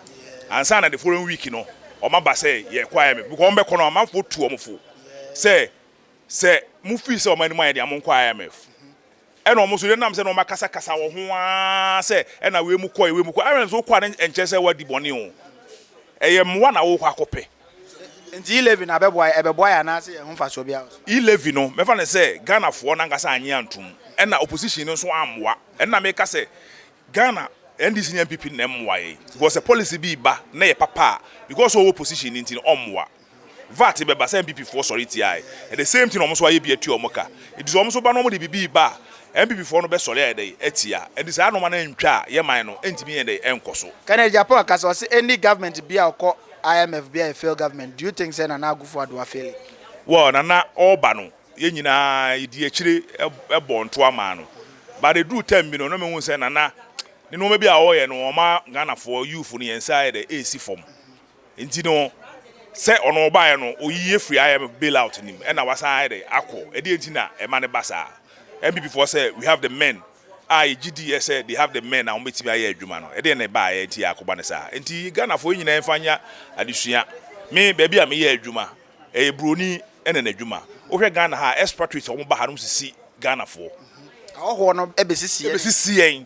ansa na the following week no wɔn aba sɛ yɛkɔ IM because wɔn bɛkɔ no amanfoɔ tu wɔn fo sɛ sɛ mo fii sɛ wɔn anim ayɛ deɛ mo nkɔ IMF. Ɛna wɔn nso denam sɛ na wɔakasakasa wɔn ho ara sɛ ɛna wei mu kɔe, wei mu kɔe. Aaron sɛ wokɔ a ne ɛnkyerɛ sɛ woadi bɔne o. Ɛyɛ mmoa na worekɔ akɔpɛ. Nti e-levy na abɛboa yɛn? Ɛbɛboa yɛn anaasɛ yɛn ho mfasoɔ biara wɔ so? E-levy no, mɛfa no sɛ Ghanafoɔ no ankasa annye antom. Ɛna opposition no nso ammoa. Ɛno na meka sɛ Ghana NDC ne NPP no na ɛmmoa yɛn. Because sɛ policy bi reba na ɛyɛ papa a, because sɛ ɔwɔ opposition no nti no, ɔmmoa. vat bɛba sɛ NPP foɔ sɔre tiaɛ and the same thing ɔmo nso ayɛ bi atua ɔmo ka nti sɛ ɔmo nso ba na ɔmo de bibi reba a NPP foɔ no bɛ sɔre ayɛ dɛn atia and saa nnoɔma no antwa a yɛ man no ɛntumi nyɛ dɛn ɛnkɔ so. Kenneth Agyapong kasa ɔse any government bia ɔkɔ IMF bia yɛ failed government do you think sɛ Nana Akufo Addo afeeli? Well Nana ɔɔba no yɛ nyinaa yɛdi akyire bɔɔ ntoa maa no but ɛduru term bi no na mehu sɛ Nana ne nnoɔma bi a ɔɔyɛ no ɔma Ghanafoɔ youthfo no yɛn nsa ayɛ dɛn ɛɛsi fam Nti no, sɛ ɔno ɔbaeɛ no, ɔyiyi afiri IMF bail out nim, ɛna wasan ayɛ dɛ akɔ. Ɛdeɛ nti na ɛma no ba saa? NPP foɔ sɛ we have the men a yɛgye di yɛ sɛ they have the men a wɔbɛtumi ayɛ adwuma no, ɛdeɛ na ɛbaeɛ nti a akɔba no saa? Nti Ghana foɔ yɛ nyinaa mfa nyɛ adesua. Me baabi a me yɛ adwuma, ɛyɛ broni ɛna n'adwuma. Wohwɛ Ghana ha a, expatriates a wɔba ha no sisi Ghana foɔ. Ahɔhoɔ no bɛsisi yɛn. Bɛsisi yɛn.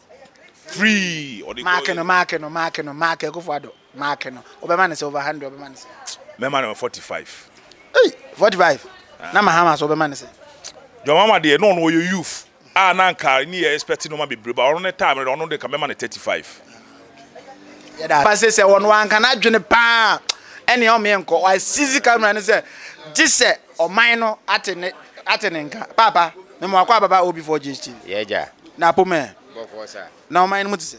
Free! Ɔde Mark kɔ- no, mark no, mark no, mark Akufo Addo, mark no. Wobɛma no sɛ over hundred, wobɛma no sɛ. Mɛma no forty five. Ei! Forty five? Na Mahama so wobɛma no sɛ. John Mahama deɛ, na ɔno ɔyɛ youth a na anka ne yɛ expect nnoɔma bebree, but ɔno ne time no deɛ, ɔno deɛ nka mɛma no thirty five. Yɛda ase. Ba sɛ sɛ ɔno anka n'adwene paa ɛnea ɔmeɛ nkɔ. Wasisi camera no sɛ gye sɛ. Ɔman no ate ne ate ne nka. Paapa, me mo akɔ ababa o before GHTV. Yeah gya. Na apom ɛ. Bɔkɔɔ sa. Na ɔman no mu te sɛ.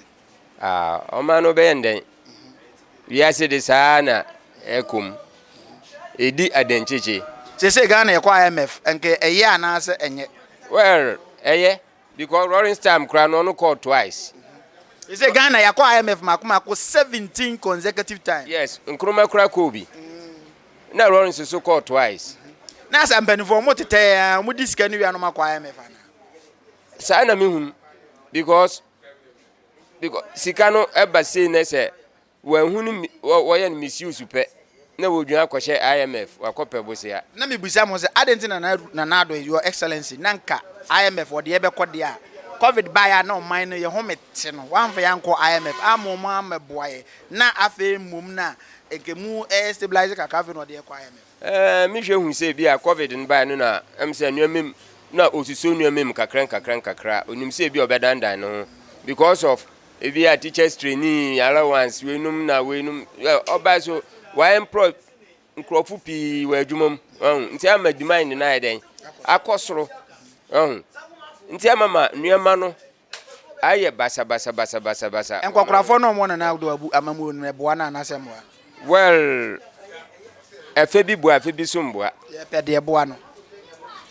Ah, ɔman no bɛyɛ ndɛn? Wiase de saa ara na ɛkɔ mu. Edi adenkyekye. Seesei Ghana yɛkɔ IMF, nka ɛyɛ anaasɛ ɛnyɛ? Well, ɛyɛ. Because Lawrence time koraa no ɔno kɔɔ twice. They say Ghana yɛakɔ IMF mako mako seventeen consecutive times. Yes, Nkrumah koraa kɔɔ bi. Ɛna Lawrence nso kɔɔ twice. Na sɛ mpanimfoɔ wɔn tetɛ ara wɔn di sika no wia na wɔn akɔ IMF ana? Saa na mi hun because because sika no ɛba sei na sɛ wɔahu no wɔ wɔyɛ no misuse pɛ na wodwan akɔhyɛ IMF wakɔpɛ bosea. Na mebisa mo sɛ adɛn nti na Nana Addo your excellency na nka IMF ɔde yɛbɛkɔ deɛ a covid baeɛ a na ɔman no yɛ home te no wamfa yɛ ankɔ IMF amma ɔmo ammɛboa yɛ na afei mmom no a nka mu ɛyɛ stabilize kakra afei na ɔde yɛkɔ IMF. Ɛɛ, me hwɛ hu sɛ ebia Covid no bae no na ɛm sɛ nneɛma mu na osusuw nneɛma mu kakra nkakra nkakra. Onim sɛ ebia ɔbɛdandan ne ho because of ebia teachers training allowance weinom na weinom ɔbae so wayɛ mprɔ nkurɔfo pii wɔ adwuma mu ɔho nti ama demand no ayɛ dɛn akɔ soro ɔho nti ama ma nneɛma no ayɛ basabasa basabasa basa. Nkwakorafoɔ no a wɔn nana de wɔn abu amammuo no, ɛboa no anaasɛ ɛmmoa no? Well, ɛfɛ bi boa, ɛfɛ bi nso mmoa. Yɛpɛ deɛ ɛboa no,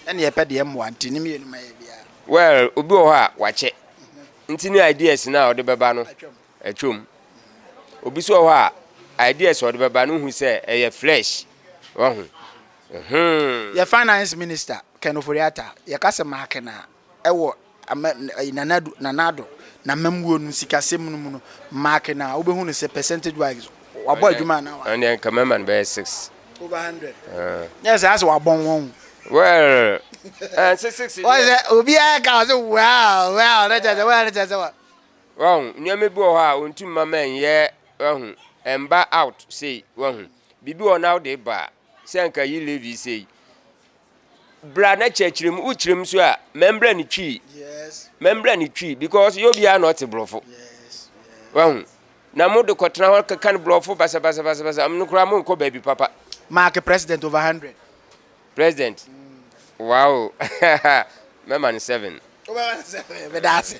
ɛna yɛpɛ deɛ ɛmmoa, nti ne mmienu ma yɛ biara. Well, obi wɔ hɔ a wakyɛ, nti ne ideas no a ɔde bɛba no atwam. Obi nso wɔ hɔ a ideas a ɔde bɛba no hu sɛ ɛyɛ flesh, wahu. Yɛ finance minister Ken Ofori-Atta, yɛka sɛ Makenaa. Wɔ Nana Addo, Nana Addo n'amammuo no sikasɛm no mu no, mark no a, wobɛhu no sɛ percentage wise, wabɔ adwuma anaa wa? Ɛndeɛ nka mɛma no bɛyɛ six. Over hundred? Uh. Nyɛ sɛ asɛ wabɔn wɔn ho. Well, ɛnse six deɛ. Wɔn sɛ obiara ka ɔsɛ well, well, ne kyɛ sɛ well ne kyɛ sɛ wa. Wɔn, nneɛma bi wɔ hɔ a ɔntum ma ma ɛnyɛ wahu, ɛmba out sei, wahu. Biribi wɔ na wode ba a, sɛ nka yi levi sei. bra na kyerɛkyerɛ mu wokyerɛ mu so a mɛmbrɛ ne twi mɛmbrɛ ne twi because yɛ obiara na ɔte borɔfo wahu na mo de kɔtena hɔ keka no borɔfo basabasabasabasa no koraa mo nkɔ baabi papa mark president over hundred president wow mɛma no seven wobɛma no seven meda ase